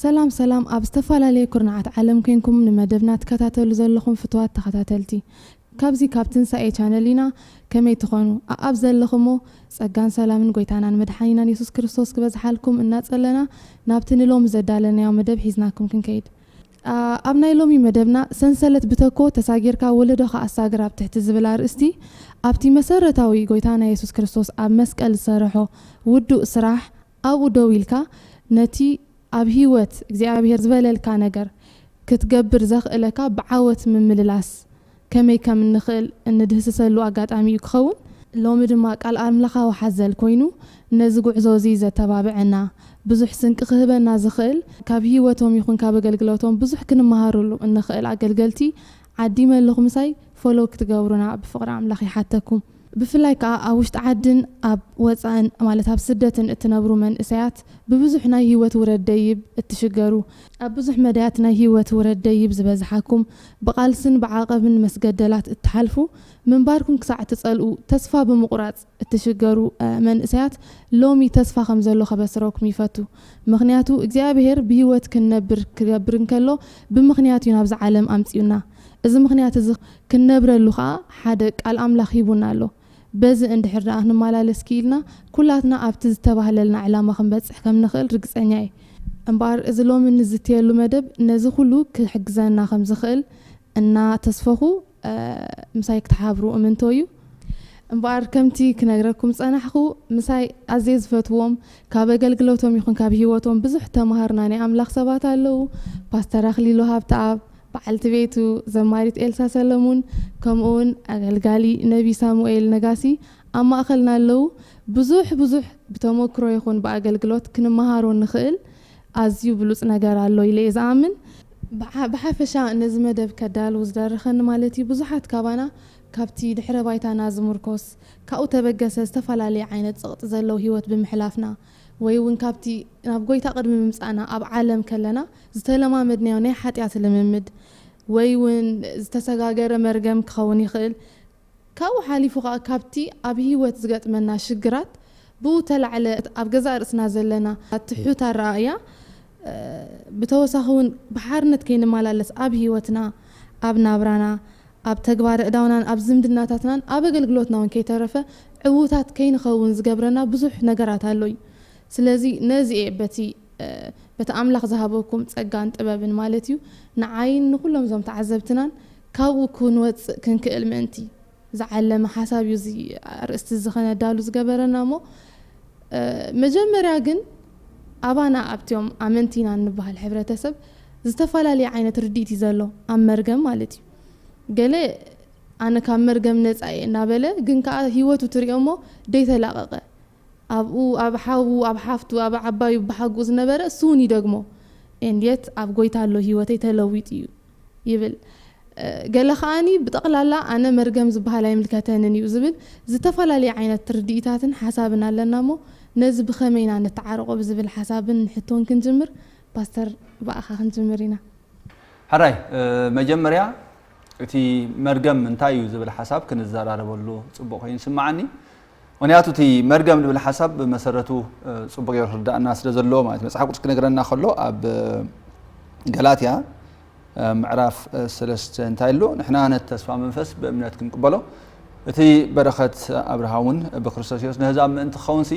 ሰላም ሰላም ኣብ ዝተፋላለየ ኩርናዓት ዓለም ኮንኩም ንመደብና ትከታተሉ ዘለኹም ፍቱዋት ተኸታተልቲ ካብዚ ካብ ትንሳኤ ቻነል ኢና ከመይ ትኾኑ ኣኣብ ዘለኹሞ ጸጋን ሰላምን ጎይታናን መድሓኒናን የሱስ ክርስቶስ ክበዝሓልኩም እናጸለና ናብቲ ንሎሚ ዘዳለናዮ መደብ ሒዝናኩም ክንከይድ ኣብ ናይ ሎሚ መደብና ሰንሰለት ብተኮ ተሳጊርካ ወለዶኻ ኣሳግር ኣብ ትሕቲ ዝብል ኣርእስቲ ኣብቲ መሰረታዊ ጎይታና የሱስ ክርስቶስ ኣብ መስቀል ዝሰረሖ ውዱእ ስራሕ ኣብኡ ደው ኢልካ ነቲ ኣብ ህይወት እግዚኣብሄር ዝበለልካ ነገር ክትገብር ዘኽእለካ ብዓወት ምምልላስ ከመይ ከም እንኽእል እንድህስሰሉ ኣጋጣሚ እዩ ክኸውን። ሎሚ ድማ ቃል ኣምላኻዊ ሓዘል ኮይኑ ነዚ ጉዕዞ እዚ ዘተባብዐና፣ ብዙሕ ስንቂ ክህበና ዝኽእል፣ ካብ ህይወቶም ይኹን ካብ ኣገልግሎቶም ብዙሕ ክንመሃረሉ እንኽእል ኣገልገልቲ ዓዲመ ኣለኹ ምሳይ ፎሎው ክትገብሩና ብፍቅሪ ኣምላኽ ይሓተኩም። ብፍላይ ከኣ ኣብ ውሽጢ ዓድን ኣብ ወጻእን ማለት ኣብ ስደትን እትነብሩ መንእሰያት ብብዙሕ ናይ ሂወት ውረድ ደይብ እትሽገሩ ኣብ ብዙሕ መዳያት ናይ ሂወት ውረድ ደይብ ዝበዝሓኩም ብቃልስን ብዓቐብን መስገደላት እትሓልፉ ምንባርኩም ክሳዕ እትጸልኡ ተስፋ ብምቑራጽ እትሽገሩ መንእሰያት ሎሚ ተስፋ ከም ዘሎ ከበስረኩም ይፈቱ ምኽንያቱ እግዚኣብሄር ብህይወት ክንነብር ክገብር እንከሎ ብምኽንያት እዩ ናብዛ ዓለም ኣምጺኡና እዚ ምኽንያት እዚ ክንነብረሉ ከኣ ሓደ ቃል ኣምላኽ ሂቡና ኣሎ በዚ እንድሕር ደኣ ክንመላለስ ክኢልና ኩላትና ኣብቲ ዝተባህለልና ዕላማ ክንበጽሕ ከም ንኽእል ርግጸኛ እየ እምበኣር እዚ ሎሚ እንዝትየሉ መደብ ነዚ ኩሉ ክሕግዘና ከም ዝኽእል እናተስፈኹ ምሳይ ክትሓብሩ እምንቶ እዩ። እምበኣር ከምቲ ክነግረኩም ዝጸናሕኩ ምሳይ ኣዝየ ዝፈትዎም ካብ ኣገልግሎቶም ይኹን ካብ ሂወቶም ብዙሕ እተማሃርና ናይ ኣምላኽ ሰባት ኣለዉ። ፓስተር ኣኽሊሉ ሃብተኣብ፣ በዓልቲ ቤቱ ዘማሪት ኤልሳ ሰለሙን ከምኡውን ኣገልጋሊ ነቢ ሳሙኤል ነጋሲ ኣብ ማእከልና ኣለዉ። ብዙሕ ብዙሕ ብተመክሮ ይኹን ብኣገልግሎት ክንመሃሮ እንኽእል ኣዝዩ ብሉጽ ነገር ኣሎ ኢለ'የ ዝኣምን። ብሓፈሻ ነዚ መደብ ከዳሉ ዝደረኸኒ ማለት እዩ ብዙሓት ካባና ካብቲ ድሕረ ባይታና ዝምርኮስ ካብኡ ተበገሰ ዝተፈላለየ ዓይነት ጸቕጢ ዘለዎ ህይወት ብምሕላፍና ወይ እውን ካብቲ ናብ ጎይታ ቅድሚ ምምጻእና ኣብ ዓለም ከለና ዝተለማመድናዮ ናይ ሓጢኣት ልምምድ ወይ እውን ዝተሰጋገረ መርገም ክኸውን ይኽእል ካብኡ ሓሊፉ ከኣ ካብቲ ኣብ ህይወት ዝገጥመና ሽግራት ብኡ ተላዕለ ኣብ ገዛእ ርእስና ዘለና ትሑት ኣረኣእያ ብተወሳኺ ውን ብሓርነት ከይንመላለስ ኣብ ህይወትና ኣብ ናብራና ኣብ ተግባረ እዳውናን ኣብ ዝምድናታትናን ኣብ ኣገልግሎትና ውን ከይተረፈ ዕዉታት ከይንኸውን ዝገብረና ብዙሕ ነገራት ኣሎ እዩ ስለዚ ነዚ እየ በቲ በቲ ኣምላኽ ዝሃበኩም ጸጋን ጥበብን ማለት እዩ ንዓይን ንኹሎም እዞም ተዓዘብትናን ካብኡ ክንወጽእ ክንክእል ምእንቲ ዝዓለመ ሓሳብ እዩ እዚ ኣርእስቲ እዚ ከነዳሉ ዝገበረና እሞ መጀመርያ ግን ኣባና ኣብቲኦም ኣመንቲ ኢና እንበሃል ሕብረተሰብ ዝተፈላለየ ዓይነት ርድኢት እዩ ዘሎ ኣብ መርገም ማለት እዩ ገለ ኣነ ካብ መርገም ነጻ እየ እናበለ ግን ከኣ ህይወቱ ትሪኦ እሞ ደይተላቐቐ ኣብኡ ኣብ ሓዉ ኣብ ሓፍቱ ኣብ ዓባዩ ብሓጉኡ ዝነበረ እሱውን ይደግሞ and yet ኣብ ጎይታ ኣሎ ሂወተይ ተለዊጡ እዩ ይብል ገለ ከኣኒ ብጠቅላላ ኣነ መርገም ዝብሃል ኣይምልከተንን እዩ ዝብል ዝተፈላለየ ዓይነት ርድኢታትን ሓሳብን ኣለና እሞ ነዚ ብከመይ ኢና ነተዓርቆ ብዝብል ሓሳብን ንሕቶን ክንጅምር ፓስተር ብኣኻ ክንጅምር ኢና። ሕራይ መጀመርያ እቲ መርገም እንታይ እዩ ዝብል ሓሳብ ክንዘራረበሉ ጽቡቅ ኮይኑ ይስምዓኒ ምክንያቱ እቲ መርገም ዝብል ሓሳብ ብመሰረቱ ጽቡቅ ገይሩ ክርዳእና ስለ ዘለዎ ማለት እዩ። መጽሓፍ ቅዱስ ክነግረና ከሎ ኣብ ገላትያ ምዕራፍ ሰለስተ እንታይ ኣሎ ንሕና ነቲ ተስፋ መንፈስ ብእምነት ክንቅበሎ እቲ በረኸት ኣብርሃ እውን ብክርስቶስ የሱስ ንህዛብ ምእንቲ ክኸውንሲ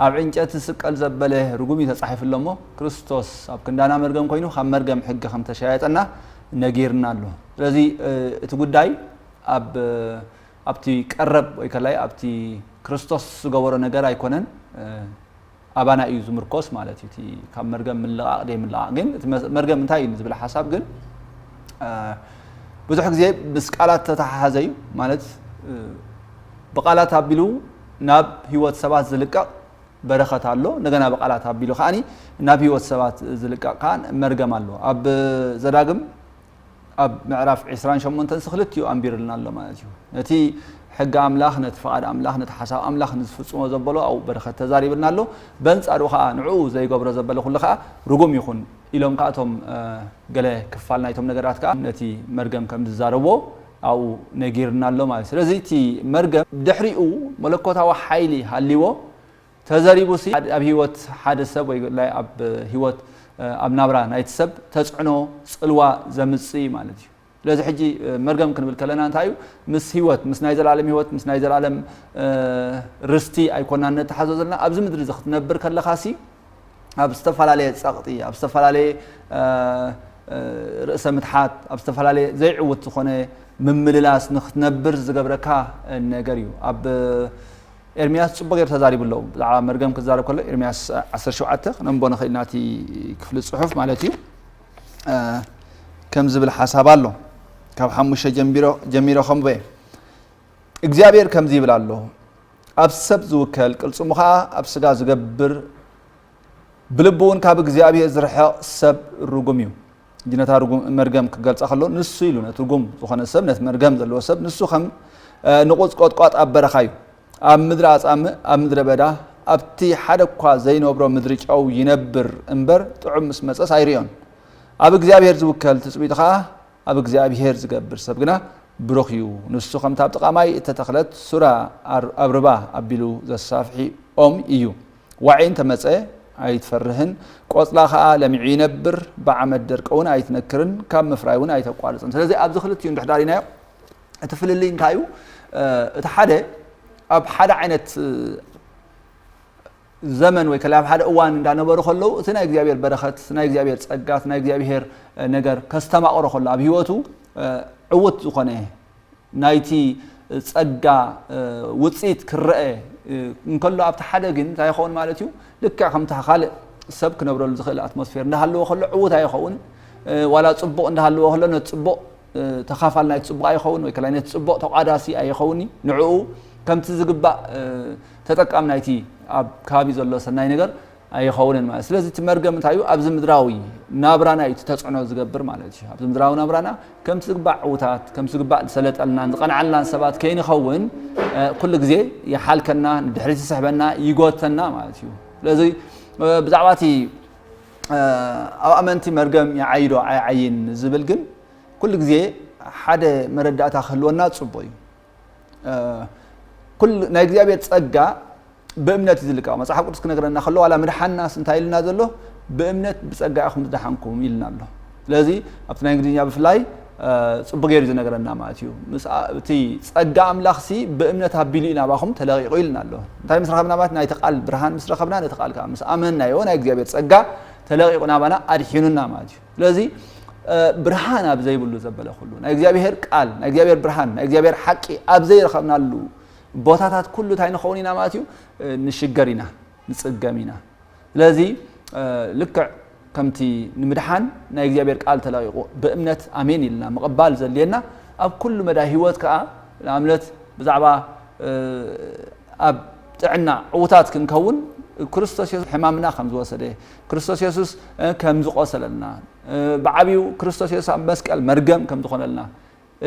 ኣብ ዕንጨት ዝስቀል ዘበለ ርጉም እዩ ተጻሒፉ ኣሎ እሞ ክርስቶስ ኣብ ክንዳና መርገም ኮይኑ ካብ መርገም ሕጊ ከም ተሸያየጠና ነጊርና ኣሎ ስለዚ እቲ ጉዳይ ኣብ ኣብቲ ቀረብ ወይ ከላይ ኣብቲ ክርስቶስ ዝገበሮ ነገር ኣይኮነን ኣባና እዩ ዝምርኮስ ማለት እዩ እቲ ካብ መርገም ምልቓቕ ዘይምልቓቕ ግን እቲ መርገም እንታይ እዩ ንዝብል ሓሳብ ግን ብዙሕ ግዜ ምስ ቃላት ተተሓሓዘ እዩ ማለት ብቃላት ኣቢሉ ናብ ህይወት ሰባት ዝልቀቕ በረኸት ኣሎ እንደገና ብቃላት ኣቢሉ ከዓኒ ናብ ህይወት ሰባት ዝልቀቕ ከዓ መርገም ኣሎ ኣብ ዘዳግም ኣብ ምዕራፍ ዕስራን ሸሞንተን ስክልቲኡ ኣንቢርልና ኣሎ ማለት እዩ። ነቲ ሕጊ ኣምላኽ፣ ነቲ ፍቓድ ኣምላኽ፣ ነቲ ሓሳብ ኣምላኽ ንዝፍጽሞ ዘበሎ ኣብኡ በረኸት ተዛሪብልና ኣሎ። በንጻሩ ከኣ ንዕኡ ዘይገብሮ ዘበለ ኩሉ ከኣ ርጉም ይኹን ኢሎም ከኣ እቶም ገለ ክፋል ናይቶም ነገራት ከኣ ነቲ መርገም ከም ዝዛረቦ ኣብኡ ነጊርና ኣሎ ማለት እዩ። ስለዚ እቲ መርገም ድሕሪኡ መለኮታዊ ሓይሊ ሃልይዎ ተዘሪቡሲ ኣብ ሂወት ሓደ ሰብ ወይ ላእ ኣብ ሂወት ኣብ ናብራ ናይቲ ሰብ ተጽዕኖ ጽልዋ ዘምጽእ እዩ ማለት እዩ። ስለዚ ሕጂ መርገም ክንብል ከለና እንታይ እዩ ምስ ሂወት ምስ ናይ ዘላለም ሂወት ምስ ናይ ዘላለም ርስቲ ኣይኮናን ነተሓዞ ዘለና ኣብዚ ምድሪ እዚ ክትነብር ከለኻሲ ኣብ ዝተፈላለየ ጸቕጢ ኣብ ዝተፈላለየ ርእሰ ምትሓት ኣብ ዝተፈላለየ ዘይዕውት ዝኾነ ምምልላስ ንክትነብር ዝገብረካ ነገር እዩ ኣብ ኤርምያስ ጽቡቕ ጌሩ ተዛሪቡ ኣሎ ብዛዕባ መርገም ክዛረብ ከሎ ኤርምያስ ዓሰርተ ሸውዓተ ክነንቦ ንኽእል ኢና እቲ ክፍሊ ጽሑፍ ማለት እዩ ከም ዝብል ሓሳብ ኣሎ ካብ ሓሙሽተ ጀሚሮ ከምቦ እየ እግዚኣብሔር ከምዚ ይብል ኣሎ ኣብ ሰብ ዝውከል ቅልጽሙ ከዓ ኣብ ስጋ ዝገብር ብልቡውን ካብ እግዚኣብሔር ዝርሕቕ ሰብ ርጉም እዩ። እጂ ነታ ርጉም መርገም ክገልጻ ከሎ ንሱ ኢሉ ነቲ ርጉም ዝኾነ ሰብ ነቲ መርገም ዘለዎ ሰብ ንሱ ከም ንቑጽ ቆጥቋጥ ኣብ በረኻ እዩ። ኣብ ምድሪ ኣጻምእ ኣብ ምድረ በዳ ኣብቲ ሓደ እኳ ዘይነብሮ ምድሪ ጨው ይነብር እምበር ጥዑም ምስ መጸስ ኣይርእዮን። ኣብ እግዚኣብሔር ዝውከል ትጽቢቱ ኸኣ ኣብ እግዚኣብሔር ዝገብር ሰብ ግና ብሩኽ እዩ። ንሱ ከምቲ ኣብ ጥቓ ማይ እተተኽለት ሱራ ኣብ ርባ ኣቢሉ ዘሳፍሒ ኦም እዩ። ዋዒ እንተ መጸ ኣይትፈርህን፣ ቆጽላ ከኣ ለሚዑ ይነብር፣ ብዓመት ደርቂ እውን ኣይትነክርን፣ ካብ ምፍራይ እውን ኣይተቋርጽን። ስለዚ ኣብዚ ክልቲኡ እንድሕር ርኢናዮ እቲ ፍልልይ እንታይ እዩ? እቲ ሓደ ኣብ ሓደ ዓይነት ዘመን ወይ ከላይ ኣብ ሓደ እዋን እንዳነበሩ ከለዉ እቲ ናይ እግዚኣብሔር በረኸት ናይ እግዚኣብሔር ጸጋት ናይ እግዚኣብሔር ነገር ከስተማቕሮ ከሎ ኣብ ህይወቱ ዕውት ዝኾነ ናይቲ ጸጋ ውጽኢት ክረኤ እንከሎ ኣብቲ ሓደ ግን እንታይ ይኸውን ማለት እዩ ልክዕ ከምታ ካልእ ሰብ ክነብረሉ ዝኽእል ኣትሞስፌር እንዳሃለዎ ከሎ ዕዉት ኣይኸውን ዋላ ጽቡቕ እንዳሃለዎ ከሎ ነቲ ጽቡቕ ተኻፋል ናይቲ ጽቡቕ ኣይኸውን ወይ ከላይ ነቲ ጽቡቕ ተቋዳሲ ኣይኸውን እዩ ንዕኡ ከምቲ ዝግባእ ተጠቃም ናይቲ ኣብ ከባቢ ዘሎ ሰናይ ነገር ኣይኸውንን ማለት ስለዚ እቲ መርገም እንታይ እዩ ኣብዚ ምድራዊ ናብራና እዩ እቲ ተፅዕኖ ዝገብር ማለት እዩ ኣብዚ ምድራዊ ናብራና ከምቲ ዝግባእ ዕውታት ከምቲ ዝግባእ ዝሰለጠልናን ዝቐንዓልናን ሰባት ከይንኸውን ኩሉ ግዜ ይሓልከና ንድሕሪት ይስሕበና ይጎተና ማለት እዩ ስለዚ ብዛዕባ እቲ ኣብ ኣመንቲ መርገም ይዓይዶ ኣይዓይን ዝብል ግን ኩሉ ግዜ ሓደ መረዳእታ ክህልወና ፅቡቅ እዩ ኩሉ ናይ እግዚኣብሔር ጸጋ ብእምነት እዩ ዝልቀቕ መጽሓፍ ቅዱስ ክነግረና ከሎ ዋላ ምድሓናስ እንታይ ኢልና ዘሎ ብእምነት ብጸጋ ኢኹም ዝደሓንኩም ኢልና ኣሎ ስለዚ ኣብቲ ናይ እንግሊዝኛ ብፍላይ ጽቡቅ ገይሩ ዝነገረና ማለት እዩ እቲ ጸጋ ኣምላኽ ሲ ብእምነት ኣቢሉ ኢና ባኹም ተለቂቑ ኢልና ኣሎ እንታይ ምስ ረኸብና ማለት ናይቲ ቃል ብርሃን ምስ ረኸብና ነቲ ቃል ከዓ ምስ ኣመንናዮ ናይ እግዚኣብሔር ጸጋ ተለቂቑ ናባና ኣድሒኑና ማለት እዩ ስለዚ ብርሃን ኣብ ዘይብሉ ዘበለ ኩሉ ናይ እግዚኣብሄር ቃል ናይ እግዚኣብሄር ብርሃን ናይ እግዚኣብሄር ሓቂ ኣብ ዘይረኸብናሉ ቦታታት ኩሉ እንታይ ንኸውን ኢና ማለት እዩ ንሽገር ኢና ንፅገም ኢና ስለዚ ልክዕ ከምቲ ንምድሓን ናይ እግዚኣብሔር ቃል ተለቂቑ ብእምነት ኣሜን ኢልና ምቕባል ዘድልየና ኣብ ኩሉ መዳይ ህይወት ከዓ ንኣብነት ብዛዕባ ኣብ ጥዕና ዕውታት ክንከውን ክርስቶስ የሱስ ሕማምና ከም ዝወሰደ ክርስቶስ የሱስ ከም ዝቖሰለልና፣ ብዓቢኡ ክርስቶስ የሱስ ኣብ መስቀል መርገም ከም ዝኾነልና፣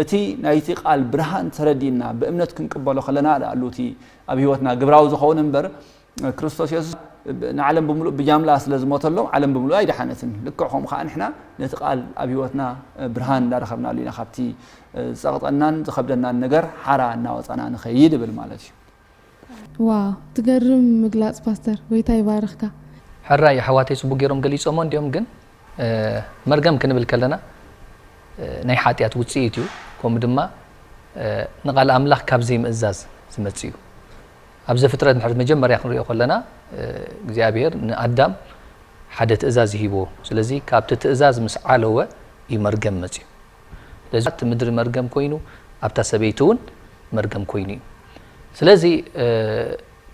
እቲ ናይቲ ቃል ብርሃን ተረዲእና ብእምነት ክንቅበሎ ከለና ድኣሉ እቲ ኣብ ህይወትና ግብራዊ ዝኸውን እምበር ክርስቶስ የሱስ ንዓለም ብምሉእ ብጃምላ ስለ ዝሞተሎም ዓለም ብምሉእ ኣይደሓነትን ልክዕ ከምኡ ከዓ ንሕና ነቲ ቃል ኣብ ህይወትና ብርሃን እንዳረኸብናሉ ኢና ካብቲ ዝፀቕጠናን ዝኸብደናን ነገር ሓራ እናወፃና ንኸይድ እብል ማለት እዩ ዋው ትገርም ምግላጽ ፓስተር ጎይታ ይባርኽካ። ሕራይ ኣሕዋተይ ጽቡቅ ጌሮም ገሊጾሞ እንድዮም ግን መርገም ክንብል ከለና ናይ ሓጥያት ውጽኢት እዩ ከምኡ ድማ ንቃል ኣምላኽ ካብ ዘይምእዛዝ ዝመጽእ እዩ ኣብ ዘፍጥረት እንድሕር መጀመርያ ክንሪኦ ከለና እግዚኣብሄር ንኣዳም ሓደ ትእዛዝ እዩ ሂብዎ ስለዚ ካብቲ ትእዛዝ ምስ ዓለወ እዩ መርገም መጽዩ ስለዚ ኣብቲ ምድሪ መርገም ኮይኑ ኣብታ ሰበይቲ እውን መርገም ኮይኑ እዩ ስለዚ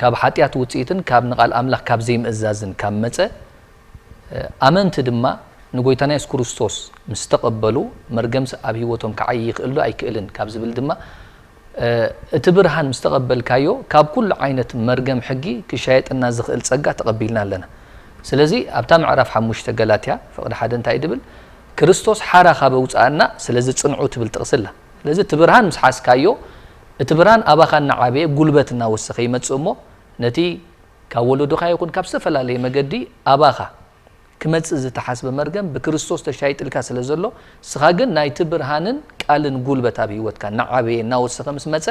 ካብ ሓጢኣት ውፅኢትን ካብ ንቓል ኣምላኽ ካብ ዘይምእዛዝን ካብ መፀ ኣመንቲ ድማ ንጎይታና የሱስ ክርስቶስ ምስ ተቐበሉ መርገምሲ ኣብ ህይወቶም ክዓይ ይኽእል ዶ ኣይክእልን ካብ ዝብል ድማ እቲ ብርሃን ምስ ተቐበልካዮ፣ ካብ ኩሉ ዓይነት መርገም ሕጊ ክሻየጠና ዝኽእል ጸጋ ተቐቢልና ኣለና። ስለዚ ኣብታ ምዕራፍ ሓሙሽተ ገላትያ ፍቕዲ ሓደ እንታይ እዩ ድብል? ክርስቶስ ሓራ ካብ ኣውጽኣና ስለዚ ጽንዑ ትብል ጥቕሲ ኣላ። ስለዚ እቲ ብርሃን ምስ ሓዝካዮ፣ እቲ ብርሃን ኣባኻ እናዓበየ ጉልበት እናወሰኸ ይመጽእ እሞ ነቲ ካብ ወለዶኻ ይኹን ካብ ዝተፈላለየ መገዲ ኣባኻ ክመጽእ ዝተሓስበ መርገም ብክርስቶስ ተሻይጥልካ ስለ ዘሎ እስኻ ግን ናይቲ ብርሃንን ቃልን ጉልበት ኣብ ህይወትካ እናዓበየ እናወሰኸ ምስ መጸ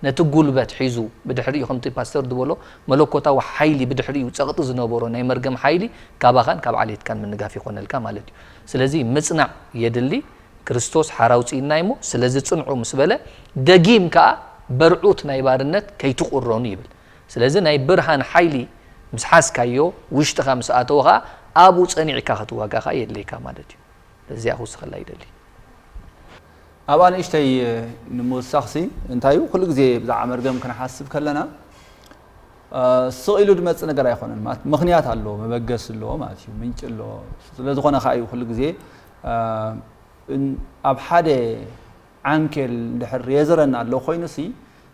ነቲ ጉልበት ሒዙ ብድሕሪኡ ከምቲ ፓስተር ድበሎ መለኮታዊ ሓይሊ ብድሕሪኡ ጸቕጢ ዝነበሮ ናይ መርገም ሓይሊ ካባኻን ካብ ዓሌትካን ምንጋፍ ይኾነልካ ማለት እዩ ስለዚ ምጽናዕ የድሊ ክርስቶስ ሓራ ኣውጺእና እዩሞ ስለዚ ጽንዑ ምስ በለ ደጊም ከኣ በርዑት ናይ ባርነት ከይትቑረኑ ይብል ስለዚ ናይ ብርሃን ሓይሊ ምስ ሓዝካዮ ውሽጥኻ ምስ ኣተወ ከኣ ኣብኡ ጸኒዕካ ክትዋጋ ከኣ የድልየካ ማለት እዩ። በዚኣ ክውስኸላ ይደሊ። ኣብኣ ንእሽተይ ንምውሳኽሲ እንታይ እዩ ኩሉ ግዜ ብዛዕባ መርገም ክንሓስብ ከለና ስቕ ኢሉ ዝመጽእ ነገር ኣይኮነን ማለት ምኽንያት ኣለዎ መበገሲ ኣለዎ ማለት እዩ ምንጭ ኣለዎ ስለዝኾነ ከኣ እዩ ኩሉ ግዜ ኣብ ሓደ ዓንኬል እንድሕር የዘረና ኣሎ ኮይኑሲ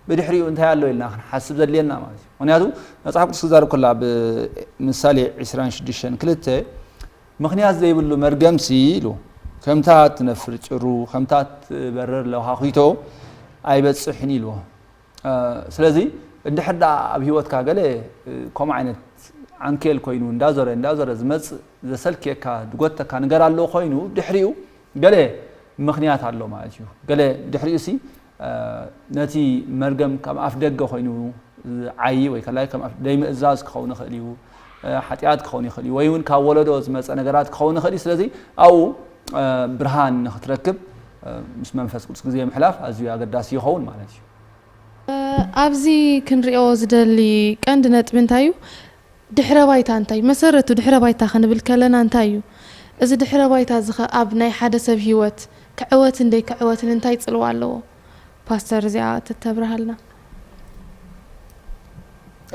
ብድሕሪኡ እንታይ ኣሎ ኢልና ክንሓስብ ዘድልየና ማለት እዩ ምክንያቱ መፅሓፍ ቅዱስ ክዛረብ ከሎ ኣብ ምሳሌ 26 ክልተ ምክንያት ዘይብሉ መርገምሲ ኢሉ ከምታ እትነፍር ጭሩ ከምታ እትበርር ለውሃኺቶ ኣይበፅሕን ኢልዎ ስለዚ እንድሕር ደኣ ኣብ ሂወትካ ገለ ከምኡ ዓይነት ዓንኬል ኮይኑ እንዳዞረ እንዳዞረ ዝመፅእ ዘሰልክየካ ዝጎተካ ነገር ኣለዎ ኮይኑ ድሕሪኡ ገለ ምኽንያት ኣሎ ማለት እዩ። ገለ ብድሕሪኡሲ ነቲ መርገም ከም ኣፍደገ ኮይኑ ዝዓዪ ወይ ከላይ ከም ዘይምእዛዝ ክኸውን ይኽእል እዩ፣ ሓጢኣት ክኸውን ይኽእል እዩ፣ ወይ እውን ካብ ወለዶ ዝመጸ ነገራት ክኸውን ይኽእል እዩ። ስለዚ ኣብኡ ብርሃን ንኽትረክብ ምስ መንፈስ ቅዱስ ግዜ ምሕላፍ ኣዝዩ ኣገዳሲ ይኸውን ማለት እዩ። ኣብዚ ክንርእዮ ዝደሊ ቀንዲ ነጥቢ እንታይ እዩ? ድሕረ ባይታ እንታይ እዩ? መሰረቱ ድሕረ ባይታ ክንብል ከለና እንታይ እዩ? እዚ ድሕረ ባይታ እዚ ከ ኣብ ናይ ሓደ ሰብ ሂወት ክዕወትን ደይክዕወትን እንታይ ጽልዋ ኣለዎ? ፓስተር እዚኣ ተተብርሃልና።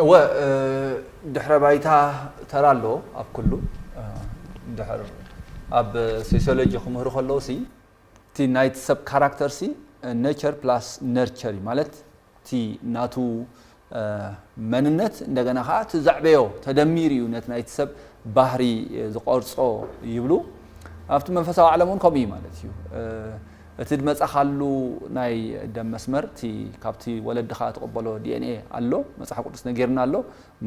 እወ ድሕረ ባይታ ተራ ኣለዎ ኣብ ኩሉ ድሕር ኣብ ሶስዮሎጂ ክምህሩ ከለዉ ሲ እቲ ናይቲ ሰብ ካራክተር ሲ ነቸር ፕላስ ነርቸር እዩ ማለት እቲ ናቱ መንነት እንደገና ከኣ እቲ ዘዕበዮ ተደሚሩ እዩ ነቲ ናይቲ ሰብ ባህሪ ዝቐርጾ ይብሉ። ኣብቲ መንፈሳዊ ዓለም እውን ከምኡ እዩ ማለት እዩ። እቲ ድመጻኻሉ ናይ ደም መስመር እቲ ካብቲ ወለድኻ ትቕበሎ ዲኤንኤ ኣሎ፣ መጽሓፍ ቅዱስ ነጊርና ኣሎ።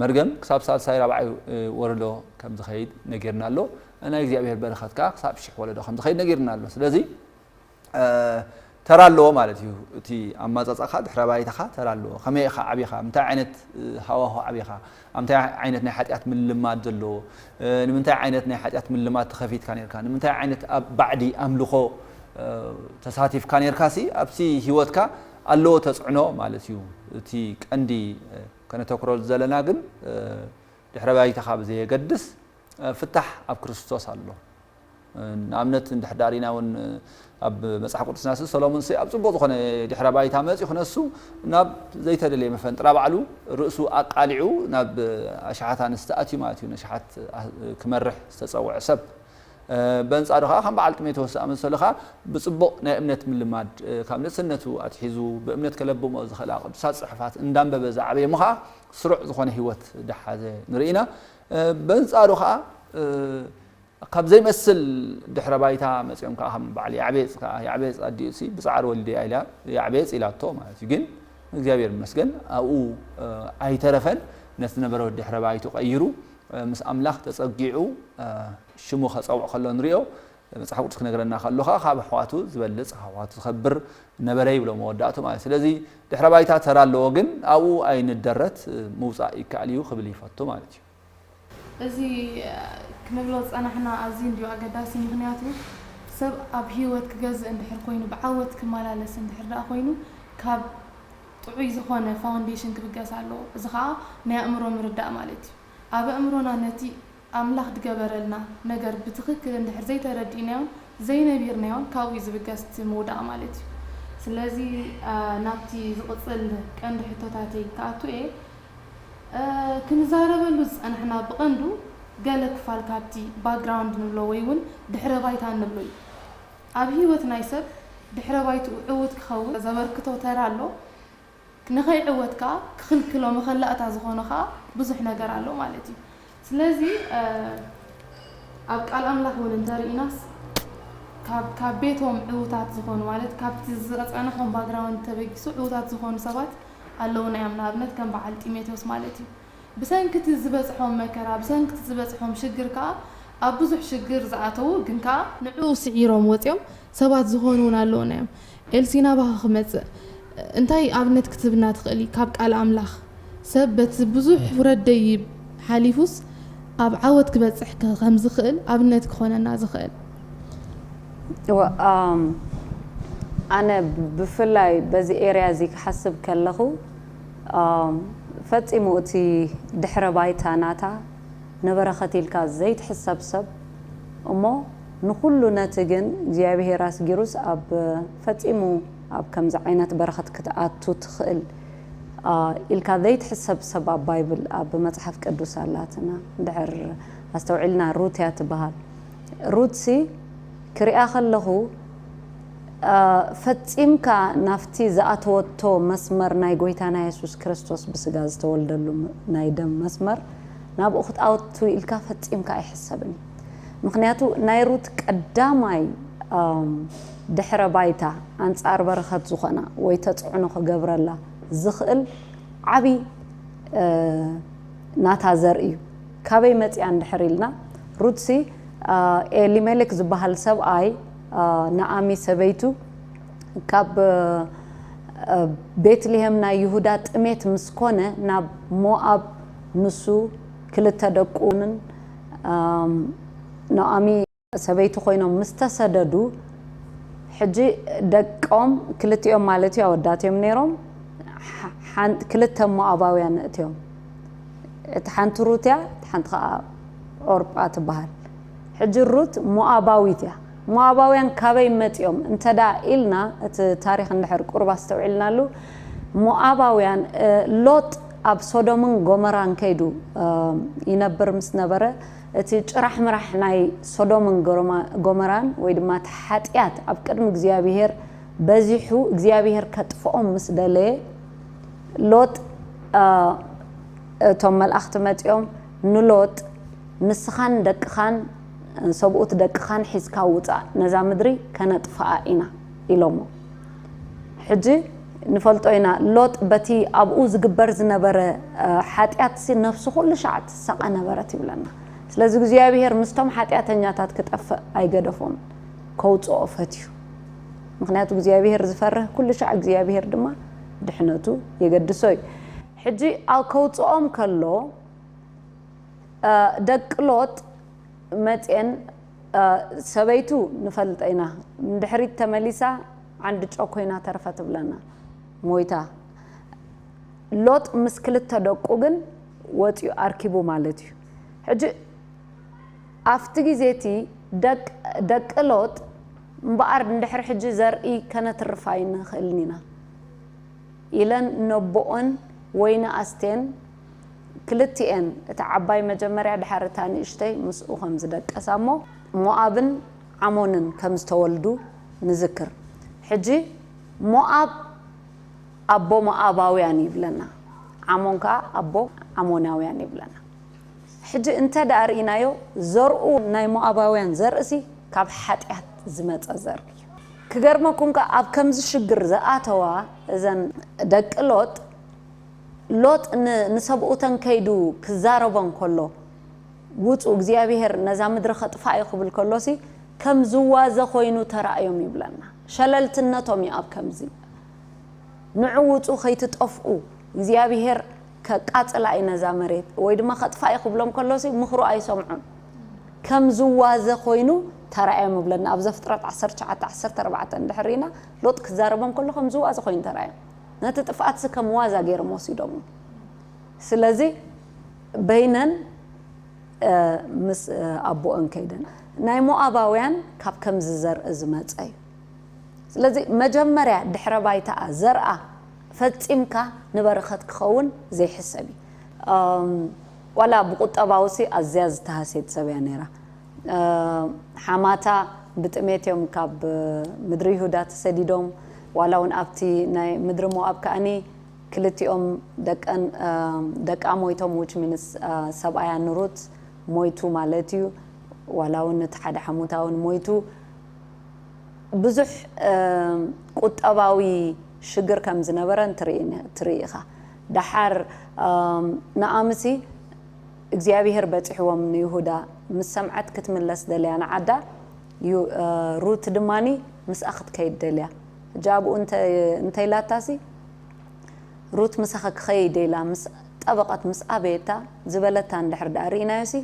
መርገም ክሳብ ሳልሳይ ራብዓይ ወለዶ ከም ዝኸይድ ነጊርና ኣሎ። ናይ እግዚኣብሄር በረኸት ከኣ ክሳብ ሽሕ ወለዶ ከም ዝኸይድ ነጊርና ኣሎ። ስለዚ ተራ ኣለዎ ማለት እዩ እቲ ኣማጻጻኻ ድሕረ ባይታኻ ተራ ኣለዎ ከመይ ኢኻ ዓቢኻ ምንታይ ዓይነት ሃዋሁ ዓቢኻ ኣብ ምንታይ ዓይነት ናይ ሓጢኣት ምልማድ ዘለዎ ንምንታይ ዓይነት ናይ ሓጢኣት ምልማድ ተኸፊትካ ነርካ ንምንታይ ዓይነት ኣብ ባዕዲ ኣምልኾ ተሳቲፍካ ነርካ ሲ ኣብቲ ህይወትካ ኣለዎ ተጽዕኖ ማለት እዩ እቲ ቀንዲ ከነተኩሮ ዘለና ግን ድሕረ ባይታኻ ብዘየገድስ ፍታሕ ኣብ ክርስቶስ ኣሎ ንኣብነት እንድሕዳ ሪኢና እውን ኣብ መጽሓፍ ቅዱስናሲ ሰሎሙንሲ ኣብ ጽቡቕ ዝኾነ ድሕረ ባይታ መጺኡ ክነሱ ናብ ዘይተደለየ መፈንጥራ ባዕሉ ርእሱ ኣቃሊዑ ናብ ኣሽሓት ኣንስቲ ኣትዩ ማለት እዩ ነሽሓት ክመርሕ ዝተጸውዐ ሰብ በንጻሩ ከዓ ከም በዓል ጢሞቴዎስ ዝኣመሰሉ ከዓ ብጽቡቕ ናይ እምነት ምልማድ ካብ ንእስነቱ ኣትሒዙ ብእምነት ከለብሞ ዝኽእላ ቅዱሳት ጽሑፋት እንዳንበበ ዝዓበየ እሞ ከዓ ስሩዕ ዝኾነ ህይወት ደሓዘ ንርኢ ኢና በንጻሩ ከዓ ካብ ዘይመስል ድሕረ ባይታ መጺኦም ከኣ ከም በዓል ያዕቤጽ ከኣ ያዕቤጽ ኣዲኡሲ ብጻዕሪ ወሊደያ ኢላ ያዕቤጽ ኢላቶ ማለት እዩ ግን እግዚኣብሔር ይመስገን ኣብኡ ኣይተረፈን ነቲ ዝነበረ ድሕረ ባይቱ ቀይሩ ምስ ኣምላኽ ተጸጊዑ ሽሙ ከጸውዕ ከሎ ንሪኦ መጽሓፍ ቅዱስ ክነግረና ከሎ ከኣ ካብ ኣሕዋቱ ዝበልጽ ካብ ኣሕዋቱ ዝኸብር ነበረ ይብሎ መወዳእቱ ማለት ስለዚ ድሕረ ባይታ ተራ ኣለዎ ግን ኣብኡ ኣይንደረት ምውጻእ ይከኣል እዩ ክብል ይፈቱ ማለት እዩ እዚ ክንብሎ ዝጸናሕና ኣዝዩ እንድዩ ኣገዳሲ ምኽንያቱ ሰብ ኣብ ሂወት ክገዝእ እንድሕር ኮይኑ ብዓወት ክመላለስ እንድሕር ደኣ ኮይኑ ካብ ጥዑይ ዝኾነ ፋውንዴሽን ክብገስ ኣለዎ እዚ ከኣ ናይ ኣእምሮ ምርዳእ ማለት እዩ ኣብ ኣእምሮና ነቲ ኣምላኽ ድገበረልና ነገር ብትኽክል እንድሕር ዘይተረዲእናዮን ዘይነቢርናዮን ካብኡ እዩ ዝብገስ እቲ ምውዳቕ ማለት እዩ ስለዚ ናብቲ ዝቕጽል ቀንዲ ሕቶታተይ ክኣቱ እየ ክንዛረበሉ ዝጸናሕና ብቐንዱ ገለ ክፋል ካብቲ ባክግራውንድ ንብሎ ወይ'ውን ድሕረ ባይታ እንብሎ እዩ። ኣብ ህይወት ናይ ሰብ ድሕረ ባይትኡ ዕዉት ክኸውን ዘበርክቶ ተራ ኣሎ። ንኸይዕወት ከኣ ክኽልክሎ መኸላእታ ዝኾኖ ከኣ ብዙሕ ነገር ኣሎ ማለት እዩ። ስለዚ ኣብ ቃል ኣምላኽ ውን እንተ ርኢናስ ካብ ካብ ቤቶም ዕውታት ዝኾኑ ማለት ካብቲ ዘጸንሖም ባግራውንድ ተበጊሱ ዕውታት ዝኾኑ ሰባት ኣለዉና እዮም ንኣብነት ከም በዓል ጢሞቴዎስ ማለት እዩ ብሰንኪ እቲ ዝበጽሖም መከራ ብሰንኪ እቲ ዝበጽሖም ሽግር ከኣ ኣብ ብዙሕ ሽግር ዝኣተዉ ግን ከኣ ንዕኡ ስዒሮም ወጺኦም ሰባት ዝኾኑ ውን ኣለዉና እዮም። ኤልሲ ናባኻ ክመጽእ እንታይ ኣብነት ክትህብና ትኽእሊ ካብ ቃል ኣምላኽ? ሰብ በቲ ብዙሕ ውረድ ደይብ ሓሊፉስ ኣብ ዓወት ክበጽሕ ከም ዝኽእል ኣብነት ክኾነና ዝኽእል? እወ ኣነ ብፍላይ በዚ ኤርያ እዚ ክሓስብ ከለኹ ፈጺሙ እቲ ድሕረ ባይታ ናታ ንበረኸት ኢልካ ዘይትሕሰብ ሰብ እሞ ንኹሉ ነቲ ግን እግዚኣብሄር ኣስጊሩስ ኣብ ፈጺሙ ኣብ ከምዚ ዓይነት በረኸት ክትኣቱ ትኽእል a ኢልካ ዘይትሕሰብ ሰብ ኣብ ባይብል ኣብ መጽሓፍ ቅዱስ ኣላትና እንድሕር ኣስተውዒልና ሩት እያ ትብሃል ሩትሲ ክሪኣ ከለኹ a ፈጺምካ ናብቲ ዝኣተወቶ መስመር ናይ ጎይታና የሱስ ክርስቶስ ብስጋ ዝተወልደሉ ናይ ደም መስመር ናብኡ ክትኣቱ ኢልካ ፈጺምካ ኣይሕሰብን እዩ። ምኽንያቱ ናይ ሩት ቀዳማይ ድሕረ ባይታ ኣንጻር በረኸት ዝኾና ወይ ተጽዕኖ ክገብረላ ዝኽእል ዓቢ ናታ ዘርኢ እዩ። ካበይ መጺኣ እንድሕር ኢልና ሩትሲ ኤሊሜሌክ ዝበሃል ሰብኣይ ናኣሚ ሰበይቱ ካብ ቤትልሄም ናይ ይሁዳ ጥሜት ምስ ኮነ ናብ ሞኣብ ንሱ ክልተ ደቁን ኑኣሚ ሰበይቲ ኮይኖም ምስ ተሰደዱ ሕጂ ደቆም ክልቲኦም ማለት እዩ ኣወዳት እዮም ነይሮም ክልተ ሞኣባውያን እትዮም እቲ ሓንቲ ሩት እያ እቲ ሓንቲ ከዓ ዖርጳ ትበሃል ሕጂ ሩት ሞኣባዊት እያ ሞኣባውያን ካበይ መጺኦም እንተ ደኣ ኢልና እቲ ታሪኽ እንድሕር ቁሩብ ኣስተውዒልናሉ ሞኣባውያን ሎጥ ኣብ ሶዶምን ጎመራን ከይዱ ይነብር ምስ ነበረ እቲ ጭራሕምራሕ ናይ ሶዶምን ጎመራን ወይ ድማ እቲ ሓጥያት ኣብ ቅድሚ እግዚኣብሄር በዚሑ እግዚኣብሄር ከጥፍኦም ምስ ደለየ ሎጥ እቶም መልኣኽቲ መጺኦም ንሎጥ ንስኻን ደቅኻን ሰብኡት ደቅኻን ሒዝካ ውጻእ፣ ነዛ ምድሪ ከነጥፍኣ ኢና ኢሎሞ። ሕጂ ንፈልጦ ኢና፣ ሎጥ በቲ ኣብኡ ዝግበር ዝነበረ ሓጢኣትሲ ነፍሱ ኩሉ ሻዕ ትሳቐ ነበረት ይብለና። ስለዚ እግዚኣብሄር ምስቶም ሓጢኣተኛታት ክጠፍእ ኣይገደፎን፣ ከውጽኦ ፈትዩ። ምኽንያቱ እግዚኣብሄር ዝፈርህ ኩሉ ሻዕ እግዚኣብሄር ድማ ድሕነቱ የገድሶ እዩ። ሕጂ ኣብ ከውጽኦም ከሎ። ደቂ ሎጥ መጼን ሰበይቱ ንፈልጠ ኢና ንድሕሪት ተመሊሳ ዓንድጮ ኮይና ተርፈ ትብለና ሞይታ ሎጥ ምስ ክልተ ደቁ ግን ወጽዩ ኣርኪቡ ማለት እዩ ሕጂ ኣፍቲ ግዜ እቲ ደቂ ሎጥ እምበኣር ንድሕሪ ሕጂ ዘርኢ ከነትርፍ ኣይንክእልን ኢና ኢለን ነቦኦን ወይኒ ኣስቴን ክልቲኤን እታ ዓባይ መጀመርያ ድሓር እታ ንእሽተይ ምስኡ ከም ዝደቀሳ እሞ ሞኣብን ዓሞንን ከም ዝተወልዱ ንዝክር። ሕጂ ሞኣብ ኣቦ ሞኣባውያን እዩ ይብለና ዓሞን ከኣ ኣቦ ዓሞናውያን ይብለና። ሕጂ እንተ ደኣ ርኢናዮ ዘርኡ ናይ ሞኣባውያን ዘርእሲ ካብ ሓጢኣት ዝመጸ ዘርኢ እዩ። ክገርመኩም ከኣ ኣብ ከምዚ ሽግር ዝኣተዋ እዘን ደቂ ሎጥ፣ ሎጥ ን ንሰብኡተን ከይዱ ክዛረቦን ከሎ ውጹ እግዚኣብሄር ነዛ ምድሪ ከጥፍኣ እዩ ክብል ከሎሲ ከም ዝዋዘ ኮይኑ ተራእዮም ይብለና ሸለልትነቶም እዩ ኣብ ከምዚ ንዑ ውጹ ከይትጠፍኡ እግዚኣብሄር ከቃጽላ እዩ ነዛ መሬት ወይ ድማ ከጥፍኣ እዩ ክብሎም ከሎሲ ምኽሩ ኣይሰምዑን ከም ዝዋዘ ኮይኑ ተራእዮም ይብለና ኣብ ዘፍጥረት ዓሰርተ ትሽዓተ ዓሰርተ ኣርባዕተ እንድሕር ሪኢና ሎጥ ክዛረቦም ከሎ ከም ዝዋዘ ኮይኑ ተራእዮም ነቲ ጥፍኣትሲ ከም ዋዛ ገይሮም ወሲዶሞ። ስለዚ በይነን ምስ ኣቦኦን ከይደን ናይ ሞኣባውያን ካብ ከምዚ ዘርኢ ዝመጸ እዩ። ስለዚ መጀመርያ ድሕረ ባይታኣ ዘርኣ ፈጺምካ ንበረኸት ክኸውን ዘይሕሰብ እዩ። ዋላ ብቁጠባውሲ ኣዝያ ዝተሃስየት ሰብ እያ ነይራ። ሓማታ ብጥሜት እዮም ካብ ምድሪ ይሁዳ ተሰዲዶም፣ ዋላ ውን ኣብቲ ናይ ምድሪ ሞኣብ ከኣኒ ክልቲኦም ደቀን ደቃ ሞይቶም which means ሰብኣያ ንሩት ሞይቱ ማለት እዩ ዋላ ውን እቲ ሓደ ሓሙታ ውን ሞይቱ ብዙሕ ቁጠባዊ ሽግር ከም ዝነበረን ትርኢ ኢኻ ደሓር ንኣምሲ እግዚኣብሄር በጺሕዎም ንይሁዳ ምስ ሰምዐት ክትምለስ ደልያ ንዓዳ ዩ ሩት ድማ ምስኣ ክትከይድ ደልያ ሕጂ ኣብኡ እንተ እንተ ኢላታሲ ሩት ምሳኺ ክኸይድ ኢላ ምስ ጠበቐት ምስ ኣበየታ ዝበለታ እንድሕር ድኣ ርኢናዮሲ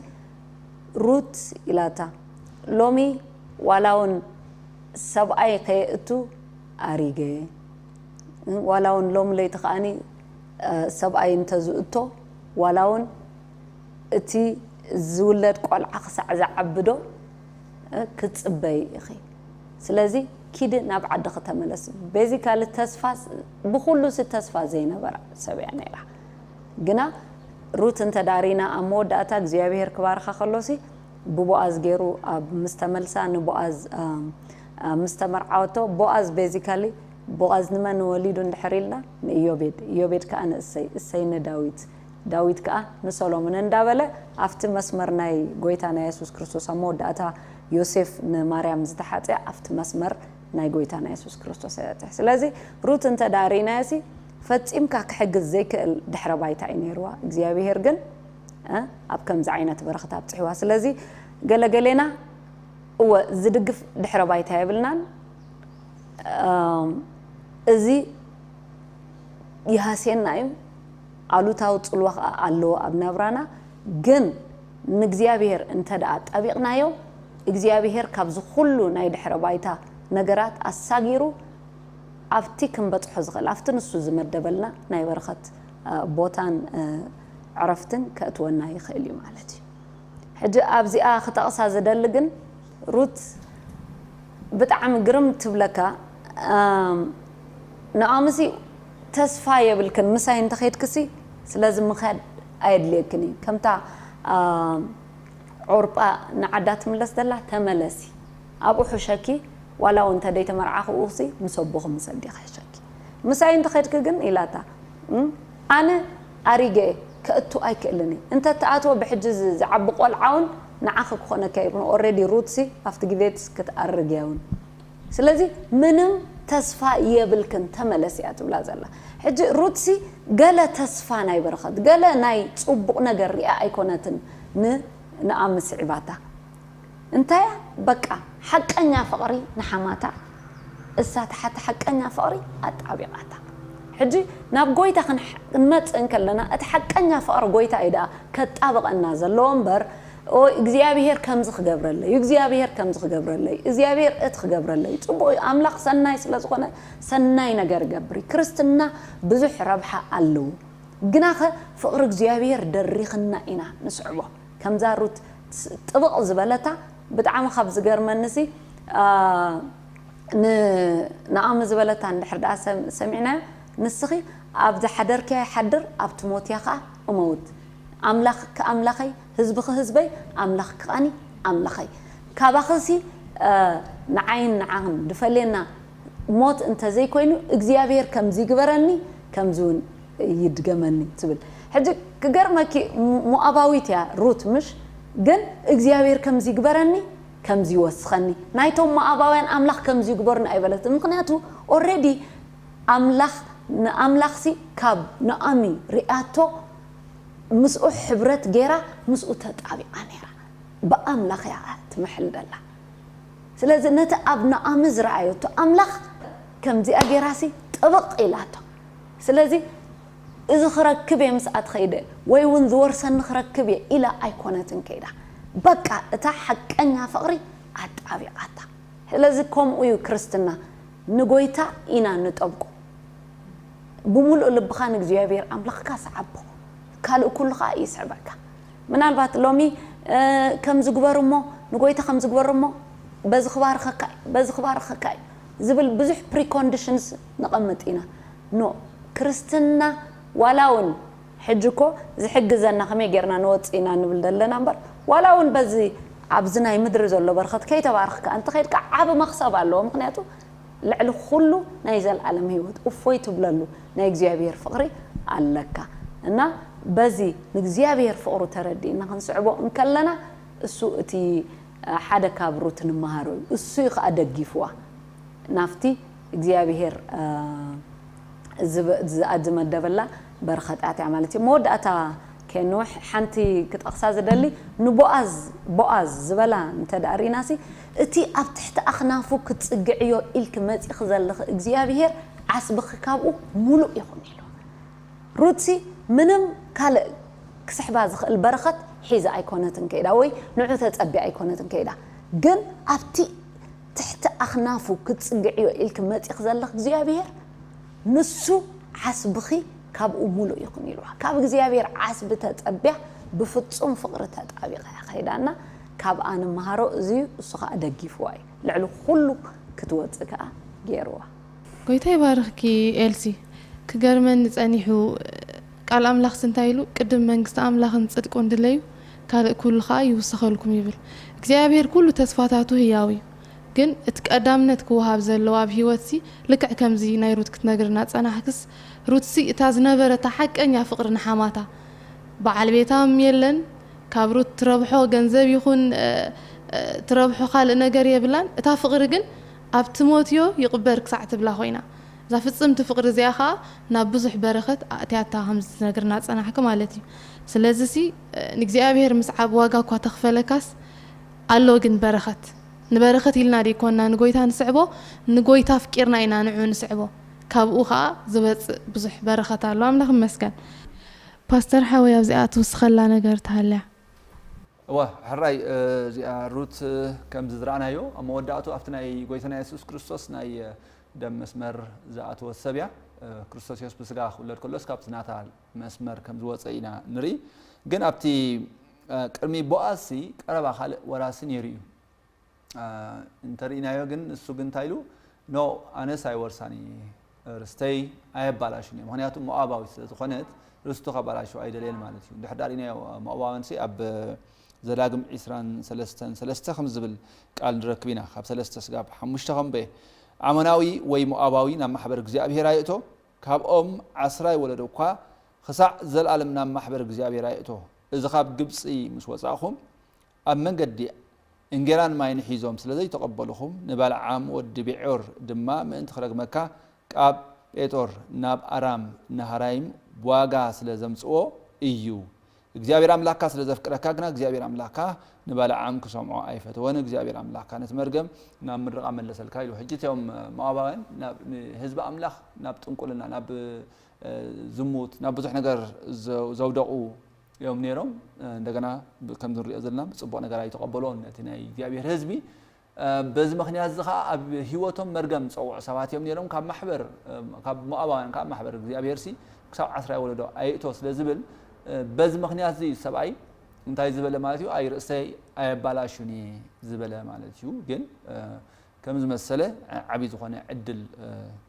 ሩት ኢላታ ሎሚ ዋላ ውን ሰብኣይ ከየእቱ ኣሪገ ዋላ ውን ሎሚ ለይቲ ከኣ ሰብኣይ እንተ ዝእቶ ዋላውን እቲ ዝውለድ ቆልዓ ክሳዕ ዝዓብዶ ክትጽበዪ ኢኺ ስለዚ ኪዲ ናብ ዓድኺ ተመለሲ ቤዚካሊ ተስፋ ብኹሉሲ ተስፋ ዘይነበራ ሰብ እያ ነይራ ግና ሩት እንተ ዳሪና ኣብ መወዳእታ እግዚኣብሄር ክባርኻ ከሎሲ ብቦኣዝ ገይሩ ኣብ ምስ ተመልሳ ንቦኣዝ ምስ ተመርዓወቶ ቦኣዝ ቤዚካሊ ቦኣዝ ንመን ወሊዱ እንድሕር ኢልና ንኢዮቤድ፣ ኢዮቤድ ከኣ ንእሰይ፣ እሰይ ንዳዊት፣ ዳዊት ከኣ ንሰሎምን እንዳ በለ ኣብቲ መስመር ናይ ጎይታና የሱስ ክርስቶስ ኣብ መወዳእታ ዮሴፍ ንማርያም ዝተሓጽያ ኣብቲ መስመር ናይ ጎይታና የሱስ ክርስቶስ እያ ትሕ ስለዚ ሩት እንተ ደኣ ርኢናያሲ ፈጺምካ ክሕግዝ ዘይክእል ድሕረ ባይታ እዩ ነይርዋ እግዚኣብሄር ግን እ ኣብ ከምዚ ዓይነት በረኽት ኣብጽሕዋ ስለዚ ገለ ገሌና እወ ዝድግፍ ድሕረ ባይታ የብልናን እዚ ይሃስየና እዩ፣ ኣሉታዊ ጽልዋ ከኣ ኣለዎ ኣብ ናብራና፣ ግን ንእግዚኣብሄር እንተደኣ ኣጣቢቕናዮ፣ እግዚኣብሄር ካብዚ ኩሉ ናይ ድሕረ ባይታ ነገራት ኣሳጊሩ ኣብቲ ክንበጽሖ ዝኽእል ኣብቲ ንሱ ዝመደበልና ናይ በረኸት ቦታን ዕረፍትን ከእትወና ይኽእል እዩ ማለት እዩ። ሕጂ ኣብዚኣ ክጠቕሳ ዝደሊ ግን፣ ሩት ብጣዕሚ ግርም ትብለካ ንዖምሲ ተስፋ የብልክን ምሳይ እንተከድክሲ ስለዚ ምካድ ኣየድልየክን እዩ ከምታ ዖርጳ ንዓዳ ትምለስ ዘላ ተመለሲ ኣብኡ ሕሸኪ ዋላ ውን ተደይ ተመርዓኪ ኡክሲ ምስ ኣቦኪ ምስ ኣዴኪ ሕሸኪ ምሳይ እንተከድኪ ግን ኢላታ ኣነ ኣሪገ ከእቱ ኣይክእልን እየ እንተ ትኣትዎ ብሕጂ እዚ ዝዓቢ ቆልዓ ውን ንዓኺ ክኾነኪ ኣይብሉን ኦሬዲ ሩትሲ ኣብቲ ግዜትስ ክትኣርግ እያ ውን ስለዚ ምንም ተስፋ የብልክን ተመለሲ እያ ትብላ ዘላ ሕጂ ሩትሲ ገለ ተስፋ ናይ በረኸት ገለ ናይ ጽቡቕ ነገር ሪኣ ኣይኮነትን ን ንኣሚ ስዒባታ እንታያ በቃ ሓቀኛ ፍቅሪ ንሓማታ እሳ ታሓቲ ሓቀኛ ፍቅሪ ኣጣቢቃታ ሕጂ ናብ ጎይታ ክንመጽእ እንከለና እቲ ሓቀኛ ፍቅሪ ጎይታ እዩ ዳኣ ከጣብቀና ዘለዎ እምበር ኦይ እግዚኣብሄር ከምዚ ክገብረለይ እዩ እግዚኣብሄር ከምዚ ክገብረለይ እዩ እዚኣብሄር እቲ ክገብረለይ እዩ ጽቡቅ እዩ ኣምላክ ሰናይ ስለ ዝኮነ ሰናይ ነገር ይገብር እዩ ክርስትና ብዙሕ ረብሓ ኣለዎ ግናከ ፍቅሪ እግዚኣብሄር ደሪክና ኢና ንስዕቦ ከምዛ ሩት ጥብቕ ዝበለታ ብጣዕሚ ካብ ዝገርመኒ ሲ ን ናኦሚ ዝበለታ እንድሕር ደኣ ሰሚዕናዮ ንስኺ ኣብ ዝሓደርክያ ይሓድር ኣብ ትሞትያ ከኣ እመውት ኣምላኽኪ ኣምላኸይ ህዝብኺ ህዝበይ ኣምላኽኪ ከኣኒ ኣምላኸይ ካባኺ ሲ ንዓይን ንዓኽን ድፈልየና ሞት እንተዘይኮይኑ እግዚኣብሄር ከምዚ ይግበረኒ ከምዚ ውን ይድገመኒ ትብል ሕጂ ክገርመኪ ሞኣባዊት እያ ሩት ምሽ ግን እግዚኣብሄር ከምዚ ይግበረኒ ከምዚ ይወስኸኒ ናይቶም ሞኣባውያን ኣምላኽ ከምዚ ይግበሩኒ ኣይበለትን ምኽንያቱ ኦሬዲ ኣምላኽ ንኣምላኽሲ ካብ ኖኣሚ ሪኣቶ ምስኡ ሕብረት ጌራ ምስኡ ተጣቢቓ ኔራ ብኣምላኽ እያ ትምሕል ደላ ስለዚ ነቲ ኣብ ኖኣሚ ዝረኣየቶ ኣምላኽ ከምዚኣ ጌራሲ ጥብቕ ኢላቶ ስለዚ እዚ ክረክብ እየ ምስኣ ተኸይደ ወይ እውን ዝወርሰኒ ክረክብ እየ ኢላ ኣይኮነትን ከይዳ በቃ እታ ሓቀኛ ፍቕሪ ኣጣቢቓታ ስለዚ ከምኡ እዩ ክርስትና ንጎይታ ኢና ንጠብቆ ብሙሉእ ልብኻ ንእግዚኣብሔር ኣምላኽካ ስዓቦ ካልእ ኩሉ ከኣ ይስዕበካ ምናልባት ሎሚ ከምዚ ግበር እሞ ንጎይታ ከምዚ ግበር እሞ በዚ ክባርኸካ እዩ በዚ ክባርኸካ እዩ ዝብል ብዙሕ ፕሪኮንድሽንስ ነቐምጥ ኢና ን ክርስትና ዋላ ውን ሕጂ እኮ ዝሕግዘና ከመይ ጌርና ንወጽእ ኢና ንብል ዘለና እምበር ዋላ ውን በዚ ኣብዚ ናይ ምድሪ ዘሎ በርኸት ከይተባረኽካ እንተ ኸድካ ዓቢ መኽሰብ ኣለዎ ምኽንያቱ ልዕሊ ኩሉ ናይ ዘልኣለም ሂወት እፎይ ትብለሉ ናይ እግዚኣብሄር ፍቕሪ ኣለካ እና በዚ ንእግዚኣብሄር ፍቕሩ ተረዲእና ክንስዕቦ እንከለና እሱ እቲ ሓደ ካብ ሩት ንመሃሮ እዩ እሱ እዩ ከኣ ደጊፍዋ ናብቲ እግዚኣብሄር እዚኣ ዝመደበላ በረኸት ኣያ ማለት እዩ። መወዳእታ ከንውሕ ሓንቲ ክጠቕሳ ዝደሊ ንቦኣዝ ቦኣዝ ዝበላ እንተ ርኢናሲ እቲ ኣብ ትሕቲ ኣኽናፉ ክትጽግዕዮ ኢልኪ መጺኺ ዘለኺ እግዚኣብሄር ዓስብኺ ካብኡ ምሉእ ይኹን ኢልዋ። ሩትሲ ምንም ካልእ ክስሕባ ዝኽእል በረኸት ሒዛ ኣይኮነትን ከይዳ ወይ ንዑ ተጸቢያ ኣይኮነትን ከይዳ ግን ኣብቲ ትሕቲ ኣኽናፉ ክትጽግዕዮ ኢልኪ መጺኺ ዘለኺ እግዚኣብሄር ንሱ ዓስብኺ ካብኡ ምሉእ ይኹን ኢልዋ። ካብ እግዚኣብሄር ዓስቢ ተጸብያ ብፍጹም ፍቕሪ ተጣቢቓ እያ ከይዳ እና ካብኣ ንመሃሮ እዚ እዩ እሱ ከኣ ደጊፍዋ እዩ ልዕሊ ኩሉ ክትወጽእ ከኣ ጌርዋ። ጎይታ ይባርኽኪ ኤልሲ ክገርመኒ ጸኒሑ ቃል ኣምላኽስ እንታይ ኢሉ ቅድም መንግስቲ ኣምላኽን ጽድቁን ድለዩ ካልእ ኩሉ ከኣ ይውሰኸልኩም ይብል። እግዚኣብሄር ኩሉ ተስፋታቱ ህያው እዩ። ግን እቲ ቀዳምነት ክወሃብ ዘለዎ ኣብ ህይወትሲ ልክዕ ከምዚ ናይ ሩት ክትነግርና ዝጸናሕክስ ሩትሲ እታ ዝነበረታ ሓቀኛ ፍቅሪ ንሓማታ በዓል ቤታ ም የለን ካብ ሩት ትረብሖ ገንዘብ ይኹን ትረብሖ ካልእ ነገር የብላን እታ ፍቅሪ ግን ኣብ ትሞትዮ ይቅበር ክሳዕ ትብላ ኮይና እዛ ፍጽምቲ ፍቅሪ እዚኣ ከኣ ናብ ብዙሕ በረኸት ኣእትያታ ከምዚ ትነግርና ዝጸናሕኪ ማለት እዩ ስለዚሲ ንእግዚኣብሔር ምስዓብ ዋጋ እኳ ተኽፈለካስ ኣሎ ግን በረኸት ንበረኸት ኢልና ደይኮንና ንጎይታ ንስዕቦ ንጎይታ ኣፍቂርና ኢና ንዑ ንስዕቦ ካብኡ ከኣ ዝመጽእ ብዙሕ በረኸት ኣሎ ኣምላኽ ይመስገን ፓስተር ሓወይ ኣብዚኣ ትውስኸላ ነገር ተሃልያ። እወ ሕራይ እዚኣ ሩት ከም ዝዝራእናዮ ኣብ መወዳእቱ ኣብቲ ናይ ጎይታና የሱስ ክርስቶስ ናይ ደም መስመር ዝኣተወት ሰብ እያ። ክርስቶስ የሱስ ብስጋ ክውለድ ከሎስ ካብቲ ናታ መስመር ከም ዝወጸ ኢና ንርኢ ግን ኣብቲ ቅድሚ ቦኣዝሲ ቀረባ ካልእ ወራሲ ነይሩ እዩ እንተርኢናዮ ግን ንሱ ግን እንታይ ኢሉ ኖ ኣነስ ኣይወርሳን እየ ርስተይ ኣየባላሽን እየ ምክንያቱ ሞኣባዊት ስለ ዝኾነት ርስቱ ከባላሽው ኣይደልየን ማለት እዩ ድሕር ዳሪናዮ ሞኣባውያንሲ ኣብ ዘዳግም ዒስራን ሰለስተን ሰለስተ ከም ዝብል ቃል ንረክብ ኢና ካብ ሰለስተ ስጋብ ሓሙሽተ ከምበየ ኣመናዊ ወይ ሞኣባዊ ናብ ማሕበር እግዚኣብሄር ኣይእቶ ካብኦም ዓስራይ ወለዶ እኳ ኽሳዕ ዘለኣለም ናብ ማሕበር እግዚኣብሄር ኣይእቶ። እዚ ኻብ ግብጺ ምስ ወጻእኹም፣ ኣብ መንገዲ እንጌራን ማይን ሒዞም ስለ ዘይተቐበሉኹም፣ ንበልዓም ወዲ ብዔዮር ድማ ምእንቲ ኽረግመካ፣ ካብ ጴጦር ናብ ኣራም ናሃራይም ብዋጋ ስለ ዘምጽኦ እዩ። እግዚኣብሄር ኣምላኽካ ስለ ዘፍቅረካ ግና እግዚኣብሄር ኣምላኽካ ንባላዓም ክሰምዖ ኣይፈተወን፣ እግዚኣብሄር ኣምላኽካ ነቲ መርገም ናብ ምድርኻ መለሰልካ ኢሉ። ሕጂ እቶም ሞኣባውያን ናብ ንህዝቢ ኣምላኽ ናብ ጥንቁልና ናብ ዝሙት ናብ ብዙሕ ነገር ዘውደቑ እዮም ነይሮም። እንደገና ከምዚ ንሪኦ ዘለና ብጽቡቕ ነገር ኣይተቐበልዎን ነቲ ናይ እግዚኣብሄር ህዝቢ በዚ ምኽንያት እዚ ኸኣ ኣብ ህይወቶም መርገም ዝጸውዑ ሰባት እዮም ነይሮም፣ ካብ ማሕበር ካብ ሞኣባውያን ከኣ ማሕበር እግዚኣብሄርሲ ክሳብ ዓስራይ ወለዶ ኣይእቶ ስለ ዝብል በዚ ምኽንያት እዚ እዩ ሰብኣይ እንታይ ዝበለ ማለት እዩ ኣይ ርእሰይ ኣየባላሹኒ ዝበለ ማለት እዩ ግን ከም ዝመሰለ ዓቢ ዝኾነ ዕድል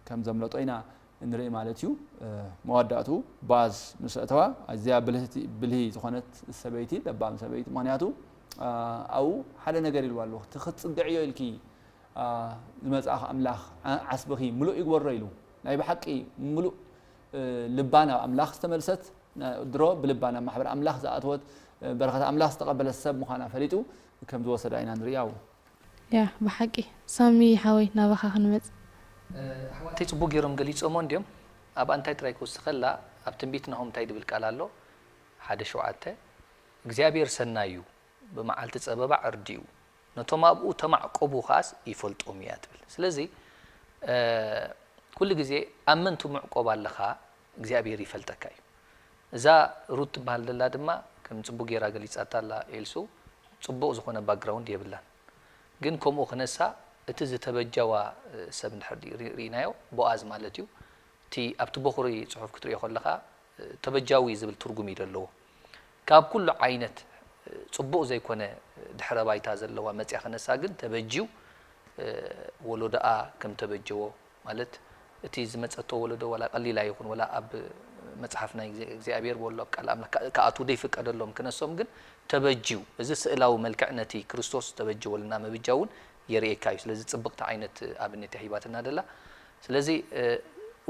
ከም ዘምለጦ ኢና ንርኢ ማለት እዩ። መዋዳእትኡ ባዝ ምስ ኣእተዋ ኣዝያ ብልህቲ ብልሂ ዝኾነት ሰበይቲ ለባም ሰበይቲ ምኽንያቱ ኣብኡ ሓደ ነገር ኢልዋ ኣሎ እቲ ክትጽግዕዮ ኢልኪ ዝመጽኣኺ ኣምላኽ ዓስብኺ ምሉእ ይግበሮ ኢሉ ናይ ብሓቂ ምሉእ ልባ ናብ ኣምላኽ ዝተመልሰት ድሮ ብልባ ናብ ማሕበር ኣምላኽ ዝኣተወት በረኸት ኣምላኽ ዝተቐበለት ሰብ ምዃና ፈሊጡ ከም ዝወሰዳ ኢና ንሪኣ። ያህ ብሓቂ ሳሚ ሓወይ ናባኻ ክንመጽ። ኣሕዋተይ ጽቡቅ ጌሮም ገሊጾሞ እንድዮም ኣብ ኣንታይ ጥራይ ክውስከላ ኣብ ትንቢት ናሆም ታይ ድብል ቃል ኣሎ ሓደ ሸውዓተ እግዚኣብሔር ሰናይ እዩ ብመዓልቲ ጸበባ ዕርዲኡ ነቶም ኣብኡ ተማዕቆቡ ከኣስ ይፈልጦም እያ ትብል ስለዚ ኩሉ ግዜ ኣብ ምንቲ ምዕቆብ ኣለካ እግዚኣብሔር ይፈልጠካ እዩ እዛ ሩት ትበሃል ዘላ ድማ ከም ጽቡቅ ጌራ ገሊጻታ ኣላ ኤልሱ ጽቡቅ ዝኮነ ባክግራውንድ የብላን ግን ከምኡ ክነሳ እቲ ዝተበጃዋ ሰብ እንድሕር ሪኢናዮ ቦኣዝ ማለት እዩ እቲ ኣብቲ ቦኹሪ ጽሑፍ ክትሪኦ ከለኻ ተበጃዊ ዝብል ትርጉም እዩ ዘለዎ ካብ ኩሉ ዓይነት ጽቡቅ ዘይኮነ ድሕረ ባይታ ዘለዋ መጽያ ክነሳ ግን ተበጅው ወሎዶኣ ከም ተበጀዎ ማለት እቲ ዝመጸቶ ወለዶ ዋላ ቀሊል ኣይኹን ዋላ ኣብ መጽሓፍ ናይ እግዚኣብሔር ወሎ ኣብ ቃል ኣምላክ ክኣትዉ ዘይፍቀደሎም ክነሶም ግን ተበጅዩ እዚ ስእላዊ መልክዕ ነቲ ክርስቶስ ዝተበጀወልና ምብጃው ውን የርእየካ እዩ ስለዚ ጽብቅቲ ዓይነት ኣብነት እያ ሂባትና ደላ ስለዚ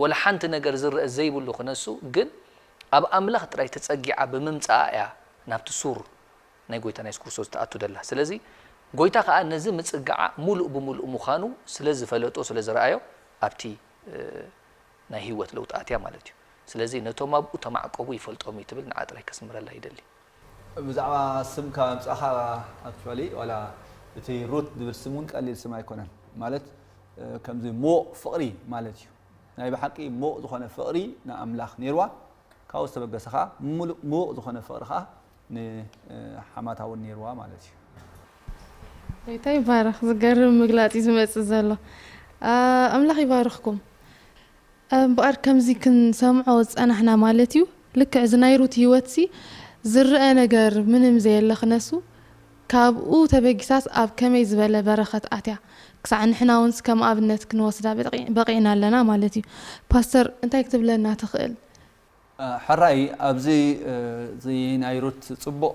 ዋላ ሓንቲ ነገር ዝረኣ ዘይብሉ ክነሱ ግን ኣብ ኣምላክ ጥራይ ተጸጊዓ ብምምጻኣ እያ ናብቲ ሱር ናይ ጎይታና የሱስ ክርስቶስ ትኣቱ ደላ። ስለዚ ጎይታ ከኣ ነዚ ምጽግዓ ምሉእ ብምሉእ ምዃኑ ስለ ዝፈለጦ ስለ ዝረኣዮ ኣብቲ ናይ ህይወት ለውጢ ኣትያ ማለት እዩ። ስለዚ ነቶም ኣብኡ ተማዕቆቡ ይፈልጦም እዩ ትብል ንዓ ጥራይ ከስምረላ ይደሊ። ብዛዕባ ስም ካብ ኣምጻኻ actually ዋላ እቲ ሩት ዝብል ስም ውን ቀሊል ስም ኣይኮነን ማለት ከምዚ ምዉቕ ፍቕሪ ማለት እዩ ናይ ብሓቂ ምዉቕ ዝኾነ ፍቕሪ ንኣምላኽ ኔርዋ ካብኡ ዝተበገሰ ከኣ ምሉእ ምዉቕ ዝኾነ ፍቕሪ ከኣ ንሓማታ እውን ነይርዋ ማለት እዩ። ጎይታ ይባረኽ ዝገርም ምግላጽ እዩ ዝመጽእ ዘሎ ኣምላኽ ይባርኽኩም እምበኣር ከምዚ ክንሰምዖ ዝጸናሕና ማለት እዩ ልክዕ እዚ ናይ ሩት ሂወትሲ ዝረኣ ነገር ምንም ዘየለ ክነሱ ካብኡ ተበጊሳስ ኣብ ከመይ ዝበለ በረኸት ኣትያ ክሳዕ ንሕና እውንስ ከም ኣብነት ክንወስዳ በቒዕና ኣለና ማለት እዩ ፓስተር እንታይ ክትብለና ትኽእል ሐራይ ኣብዚ እዚ ናይ ሩት ጽቡቅ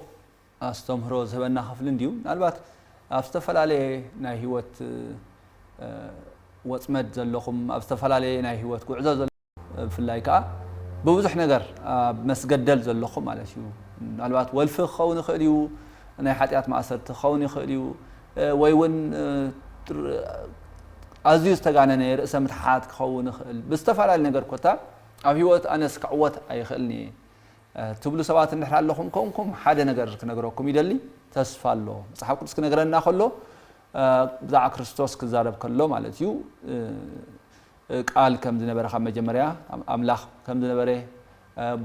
ኣስተምህሮ ዝህበና ክፍሊ እንድዩ ምናልባት ኣብ ዝተፈላለየ ናይ ሂወት ወጽመድ ዘለኹም ኣብ ዝተፈላለየ ናይ ሂወት ጉዕዞ ዘለኹም ብፍላይ ከኣ ብብዙሕ ነገር ኣብ መስገደል ዘለኹም ማለት እዩ ምናልባት ወልፊ ክኸውን ይኽእል እዩ ናይ ሓጢኣት ማእሰርቲ ክኸውን ይኽእል እዩ ወይ እውን ኣዝዩ ዝተጋነነ ርእሰ ምትሓት ክኸውን ይኽእል ብዝተፈላለየ ነገር ኮታ ኣብ ህይወት ኣነስ ክዕወት ኣይኽእልን እየ ትብሉ ሰባት እንድሕር ኣለኹም ኮንኩም ሓደ ነገር ክነግረኩም ይደሊ ተስፋ ኣሎ መጽሓፍ ቅዱስ ክነግረና ከሎ ብዛዕባ ክርስቶስ ክዛረብ ከሎ ማለት እዩ ቃል ከም ዝነበረ ካብ መጀመርያ ኣምላኽ ከም ዝነበረ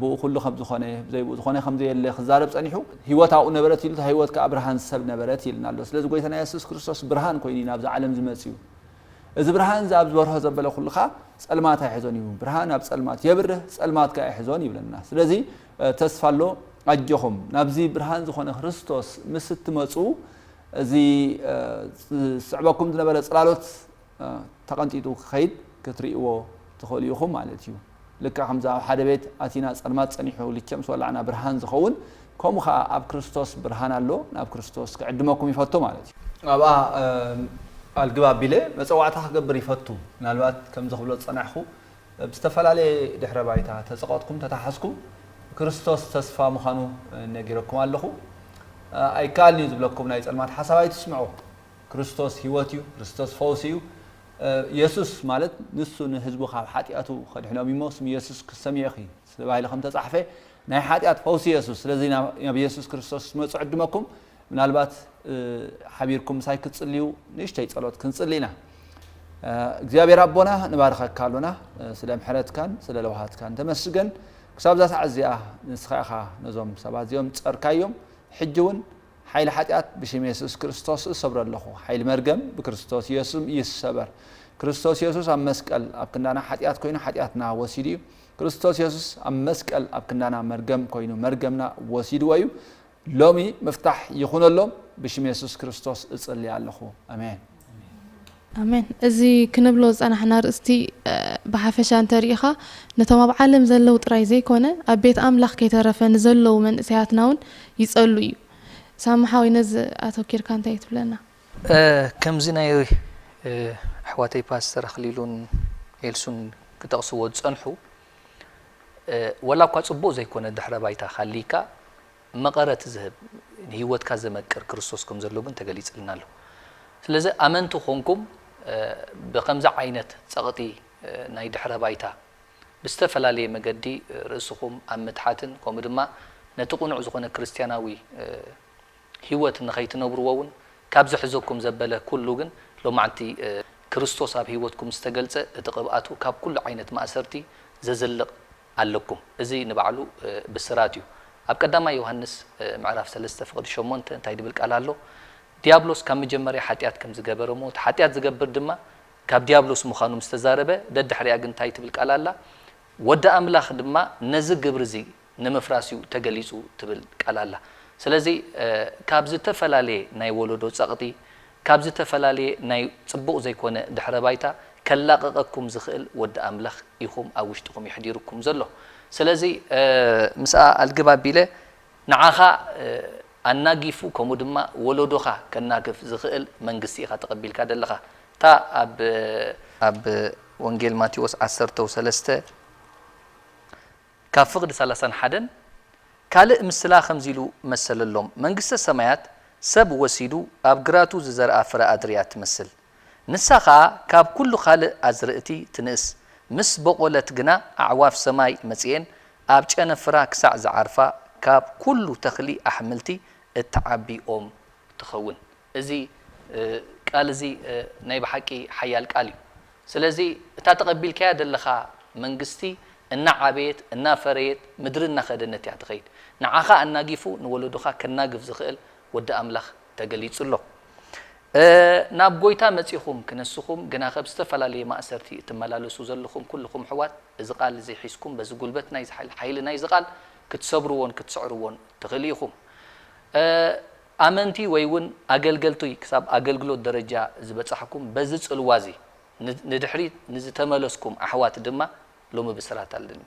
ብኡ ኩሉ ከም ዝኾነ ዘይብኡ ዝኾነ ከም ዘየለ ክዛረብ ጸኒሑ ህይወት ኣብኡ ነበረት ኢሉ ህይወት ከዓ ብርሃን ሰብ ነበረት ኢልና ኣሎ ስለዚ ጎይታና የሱስ ክርስቶስ ብርሃን ኮይኑ ናብዚ ዓለም ዝመጽ እዩ እዚ ብርሃን እዚ ኣብ ዝበርሆ ዘበለ ኩሉ ከኣ ጸልማት ኣይሕዞን እዩ ብርሃን ኣብ ጸልማት የብርህ ጸልማት ከኣ ኣይሕዞን ይብለና ስለዚ ተስፋ ኣሎ ኣጆኹም ናብዚ ብርሃን ዝኾነ ክርስቶስ ምስ እትመጹ እዚ ዝስዕበኩም ዝነበረ ጽላሎት ተቐንጢጡ ክኸይድ ክትርእይዎ ትኽእሉ ኢኹም ማለት እዩ። ልክዕ ከምዚ ኣብ ሓደ ቤት ኣቲና ጸልማት ጸኒሑ ልቸምስ ወላዕና ብርሃን ዝኸውን ከምኡ ከኣ ኣብ ክርስቶስ ብርሃን ኣሎ ናብ ክርስቶስ ክዕድመኩም ይፈቱ ማለት እዩ። ኣብኣ ኣልግብ ኣቢለ መጸዋዕታ ክገብር ይፈቱ ምናልባት ከምዚ ክብሎ ዝጸናሕኩ ብ ዝተፈላለየ ድሕረ ባይታ ተጸቐጥኩም ተታሓዝኩም ክርስቶስ ተስፋ ምዃኑ ነጊረኩም ኣለኹ ኣይከኣልንዩ ዝብለኩም ናይ ጸልማት ሓሳብ ኣይትስምዑ ክርስቶስ ህይወት እዩ ክርስቶስ ፈውሲ እዩ የሱስ ማለት ንሱ ንህዝቡ ካብ ሓጢኣቱ ከድሕኖም እዩሞ ስም የሱስ ክትሰምዒ ኢኺ ተባሂሉ ከም እተጻሕፈ ናይ ሓጢኣት ፈውሲ የሱስ ስለዚ ናብ የሱስ ክርስቶስ ክትመጹ ዕድመኩም ምናልባት ሓቢርኩም ምሳይ ክትጽልዩ ንእሽተይ ጸሎት ክንጽሊ ኢና እግዚኣብሔር ኣቦና ንባርኸካ ኣሎና ስለ ምሕረትካን ስለ ለውሃትካን ተመስገን ክሳብ እዛ ሰዓት እዚኣ ንስኻ ኢኻ ነዞም ሰባት እዚኦም ጸርካዮም ሕጂ እውን ሓይሊ ሓጢኣት ብሽም የሱስ ክርስቶስ እሰብሮ ኣለኹ። ሓይሊ መርገም ብክርስቶስ የሱም ይሰበር። ክርስቶስ የሱስ ኣብ መስቀል ኣብ ክንዳና ሓጢኣት ኮይኑ ሓጢኣትና ወሲዱ እዩ። ክርስቶስ የሱስ ኣብ መስቀል ኣብ ክንዳና መርገም ኮይኑ መርገምና ወሲድዎ እዩ። ሎሚ ምፍታሕ ይኹነሎም ብሽም የሱስ ክርስቶስ እጽሊ ኣለኹ። ኣሜን። ኣሜን እዚ ክንብሎ ዝጸናሕና ኣርእስቲ ብሓፈሻ እንተ ርኢኻ ነቶም ኣብ ዓለም ዘለዉ ጥራይ ዘይኮነ ኣብ ቤት ኣምላኽ ከይተረፈ ንዘለዉ መንእሰያትና ውን ይጸሉ እዩ ሳሚ ሓወይ ነዚ ኣተኪርካ እንታይ ትብለና። ከምዚ ናይ ኣሕዋተይ ፓስተር ኣኽሊሉን ኤልሱን ክጠቕስዎ ዝጸንሑ ወላ እኳ ጽቡቕ ዘይኮነ ድሕረ ባይታ ክሃልይካ፣ መቐረት ዝህብ፣ ንህይወትካ ዘመቅር ክርስቶስ ከም ዘሎ ግን ተገሊጽልና ኣሎ። ስለዚ ኣመንቲ ኾንኩም ብኸምዚ ዓይነት ጸቕጢ ናይ ድሕረ ባይታ ብዝተፈላለየ መገዲ ርእስኹም ኣብ ምትሓትን ከምኡ ድማ ነቲ ቅኑዕ ዝኾነ ክርስትያናዊ ህይወት ንኸይትነብርዎ እውን ካብ ዝሕዘኩም ዘበለ ኩሉ ግን ሎማዕንቲ ክርስቶስ ኣብ ህይወትኩም ዝተገልጸ እቲ ቅብኣቱ ካብ ኩሉ ዓይነት ማእሰርቲ ዘዝልቕ ኣለኩም እዚ ንባዕሉ ብስራት እዩ ኣብ ቀዳማይ ዮሃንስ ምዕራፍ ሰለስተ ፍቅዲ ሸሞንተ እንታይ ድብል ቃል ኣሎ ድያብሎስ ካብ ምጀመርያ ሓጢኣት ከም ዝገበረ እሞ እቲ ሓጢኣት ዝገብር ድማ ካብ ድያብሎስ ምኻኑ ምስ ተዛረበ ደድሕሪኣ ግን እንታይ ትብል ቃል ኣላ ወዲ ኣምላኽ ድማ ነዚ ግብሪ እዚ ንምፍራስ እዩ ተገሊጹ ትብል ቃል ኣላ ስለዚ ካብ ዝተፈላለየ ናይ ወለዶ ጸቅጢ ካብ ዝተፈላለየ ናይ ጽቡቕ ዘይኮነ ድሕረ ባይታ ከላቕቐኩም ዝኽእል ወዲ ኣምላኽ ኢኹም ኣብ ውሽጥኹም የሕዲሩኩም ዘሎ ስለዚ ምስኣ ኣልግብ ኣቢለ ንዓኻ ኣናጊፉ ከምኡ ድማ ወሎዶኻ ከናግፍ ዝኽእል መንግስቲ ኢኻ ተቐቢልካ ዘለኻ እታ ኣብ ኣብ ወንጌል ማቴዎስ ዓሰርተው ሰለስተ። ካብ ፍቕዲ ሰላሳን ሓደን ካልእ ምስላ ከምዚ ኢሉ መሰለሎም፣ መንግስተ ሰማያት ሰብ ወሲዱ ኣብ ግራቱ ዝዘርኣ ፍረ ኣድሪ እያ እትመስል። ንሳ ኸኣ ካብ ኵሉ ኻልእ ኣዝርእቲ ትንእስ፣ ምስ በቖለት ግና ኣዕዋፍ ሰማይ መጺኤን ኣብ ጨነፍራ ክሳዕ ዝዓርፋ ካብ ኵሉ ተኽሊ ኣሕምልቲ እትዓቢ ኦም ትኸውን። እዚ ቃል እዚ ናይ ብሓቂ ሓያል ቃል እዩ። ስለዚ እታ ተቐቢልካያ ዘለኻ መንግስቲ እናዓበየት እናፈረየት ምድሪ እናኸደነት እያ ትኸይድ። ንዓኻ ኣናጊፉ ንወለዶኻ ከናግፍ ዝኽእል ወዲ ኣምላኽ ተገሊጹ ኣሎ። ናብ ጎይታ መጺኹም ክነስኹም ግናኸ ብዝተፈላለየ ማእሰርቲ እትመላለሱ ዘለኹም ኩልኹም ኣሕዋት እዚ ቃል እዚ ሒዝኩም በዚ ጉልበት ናይዚ ሓይሊ ናይዚ ቃል ክትሰብርዎን ክትስዕርዎን ትኽእሉ ኢኹም። ኣመንቲ ወይ ውን ኣገልገልቱይ ክሳብ ኣገልግሎት ደረጃ ዝበጻሕኩም በዚ ጽልዋ እዚ ንድሕሪት ንዝተመለስኩም ኣሕዋት ድማ ሎሚ ብስራት ኣለኒ።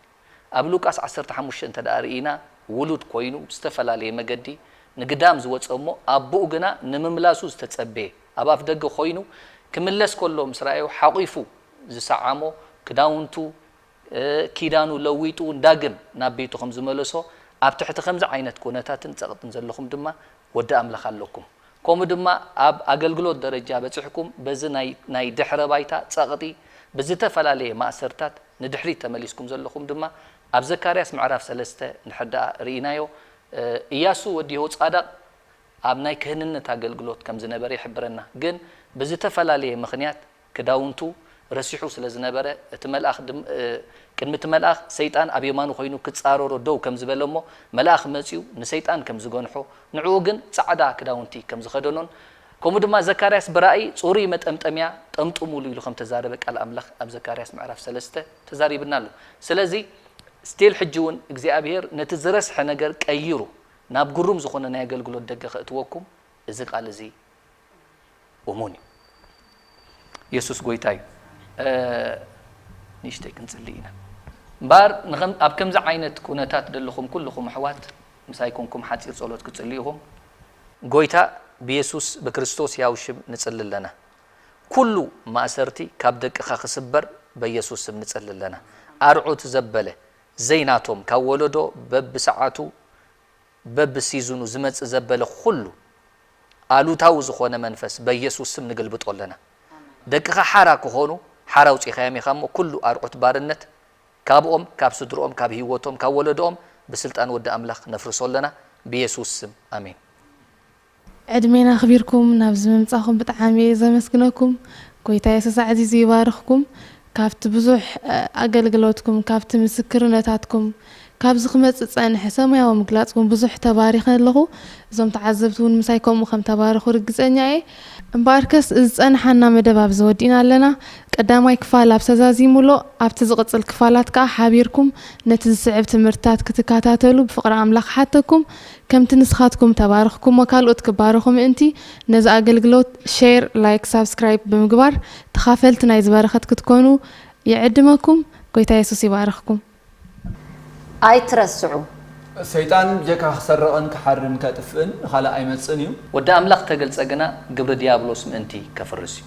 ኣብ ሉቃስ ዓሰርተ ሓሙሽተ እንተድኣ ርኢና ውሉድ ኮይኑ ብዝተፈላለየ መገዲ ንግዳም ዝወጸ እሞ ኣቡኡ ግና ንምምላሱ ዝተጸበየ ኣብ ኣፍ ደገ ኮይኑ ክምለስ ከሎ ምስ ረኣዮ ሓቂፉ ዝሰዓሞ ክዳውንቱ ኪዳኑ ለዊጡ ዳግም ናብ ቤቱ ከም ዝመለሶ፣ ኣብ ትሕቲ ከምዚ ዓይነት ኩነታትን ጸቕጥን ዘለኹም ድማ ወዲ ኣምላኽ ኣለኩም። ከምኡ ድማ ኣብ ኣገልግሎት ደረጃ በጺሕኩም በዚ ናይ ናይ ድሕረ ባይታ ጸቕጢ ብዝተፈላለየ ማእሰርታት ንድሕሪት ተመሊስኩም ዘለኹም ድማ ኣብ ዘካርያስ ምዕራፍ ሰለስተ እንድሕር ደኣ ርኢናዮ እያሱ ወዲ የሆጻዳቕ ኣብ ናይ ክህንነት ኣገልግሎት ከም ዝነበረ ይሕብረና ግን ብዝተፈላለየ ምኽንያት ክዳውንቱ ረሲሑ ስለ ዝነበረ፣ እቲ መልኣኽ ድም ቅድሚ እቲ መልኣኽ፣ ሰይጣን ኣብ የማኑ ዀይኑ ክጻረሮ ደው ከም ዝበለ እሞ፣ መልኣኽ መጺኡ ንሰይጣን ከም ዝገንሖ፣ ንዕኡ ግን ጻዕዳ ክዳውንቲ ከም ዝኸደኖን፣ ከምኡ ድማ ዘካርያስ ብራእይ ጽሩይ መጠምጠምያ ጠምጥሙሉ ኢሉ ከም እተዛረበ ቃል ኣምላኽ ኣብ ዘካርያስ ምዕራፍ ሰለስተ ተዛሪብና ኣሎ። ስለዚ still ሕጂ እውን እግዚኣብሄር ነቲ ዝረስሐ ነገር ቀይሩ ናብ ግሩም ዝዀነ ናይ ኣገልግሎት ደገ ከእትወኩም እዚ ቃል እዚ እሙን እዩ። የሱስ ጎይታ እዩ። ንእሽተይ ክንጽሊ ኢና። እምበኣር ኣብ ከምዚ ዓይነት ኩነታት ዘለኹም ኩልኹም ኣሕዋት ምሳይ ኮንኩም ሓጺር ጸሎት ክትጽልዩ ኢኹም። ጎይታ ብየሱስ ብክርስቶስ ሕያው ሽም ንጽሊ ኣለና። ኩሉ ማእሰርቲ ካብ ደቅኻ ክስበር በየሱስ ስም ንጽሊ ኣለና። ኣርዑት ዘበለ ዘይናቶም ካብ ወለዶ በብሰዓቱ በቢ ሲዝኑ ዝመጽእ ዘበለ ኹሉ ኣሉታዊ ዝኾነ መንፈስ በየሱስ ስም ንግልብጦ ኣለና ደቅኻ ሓራ ክኾኑ ሓራ ኣውጺኻዮም ኢኻ እሞ ኩሉ ኣርዑት ባርነት ካብኦም ካብ ስድርኦም ካብ ሂወቶም ካብ ወለድኦም ብስልጣን ወዲ ኣምላኽ ነፍርሶ ኣለና ብየሱስ ስም ኣሜን። ዕድሜና ኣኽቢርኩም ናብዚ ምምጻኹም ብጣዓሚ እየ ዘመስግነኩም ጎይታ የሱስ ኣዕዚዙ ይባርኽኩም ካብቲ ብዙሕ ኣገልግሎትኩም ካብቲ ምስክርነታትኩም ካብዚ ክመጽእ ዝጸንሐ ሰማያዊ ምግላጽኩም ብዙሕ ተባሪኸ ኣለኹ እዞም ተዓዘብቲ ውን ምሳይ ከምኡ ከም ተባረኹ ርግጸኛ እየ እምበኣርከስ ዝጸንሓና መደብ ኣብዚ ወዲእና ኣለና ቀዳማይ ክፋል ኣብዚ ተዛዚሙሎ ኣብቲ ዝቕጽል ክፋላት ከኣ ሓቢርኩም ነቲ ዝስዕብ ትምህርትታት ክትካታተሉ ብፍቕሪ ኣምላኽ እሓተኩም ከምቲ ንስኻትኩም ተባርኽኩሞ ካልኦት ክባረኹ ምእንቲ ነዚ ኣገልግሎት ሼር ላይክ ሳብስክራይብ ብምግባር ተኻፈልቲ ናይዚ በረኸት ክትኮኑ ይዕድመኩም ጎይታ የሱስ ይባርኽኩም። ኣይትረስዑ። ሰይጣን ጀካ ክሰርቕን ክሓርን ከጥፍእን ንኻልእ ኣይመጽእን እዩ። ወዲ ኣምላኽ ተገልጸ ግና ግብሪ ድያብሎስ ምእንቲ ከፍርስ እዩ።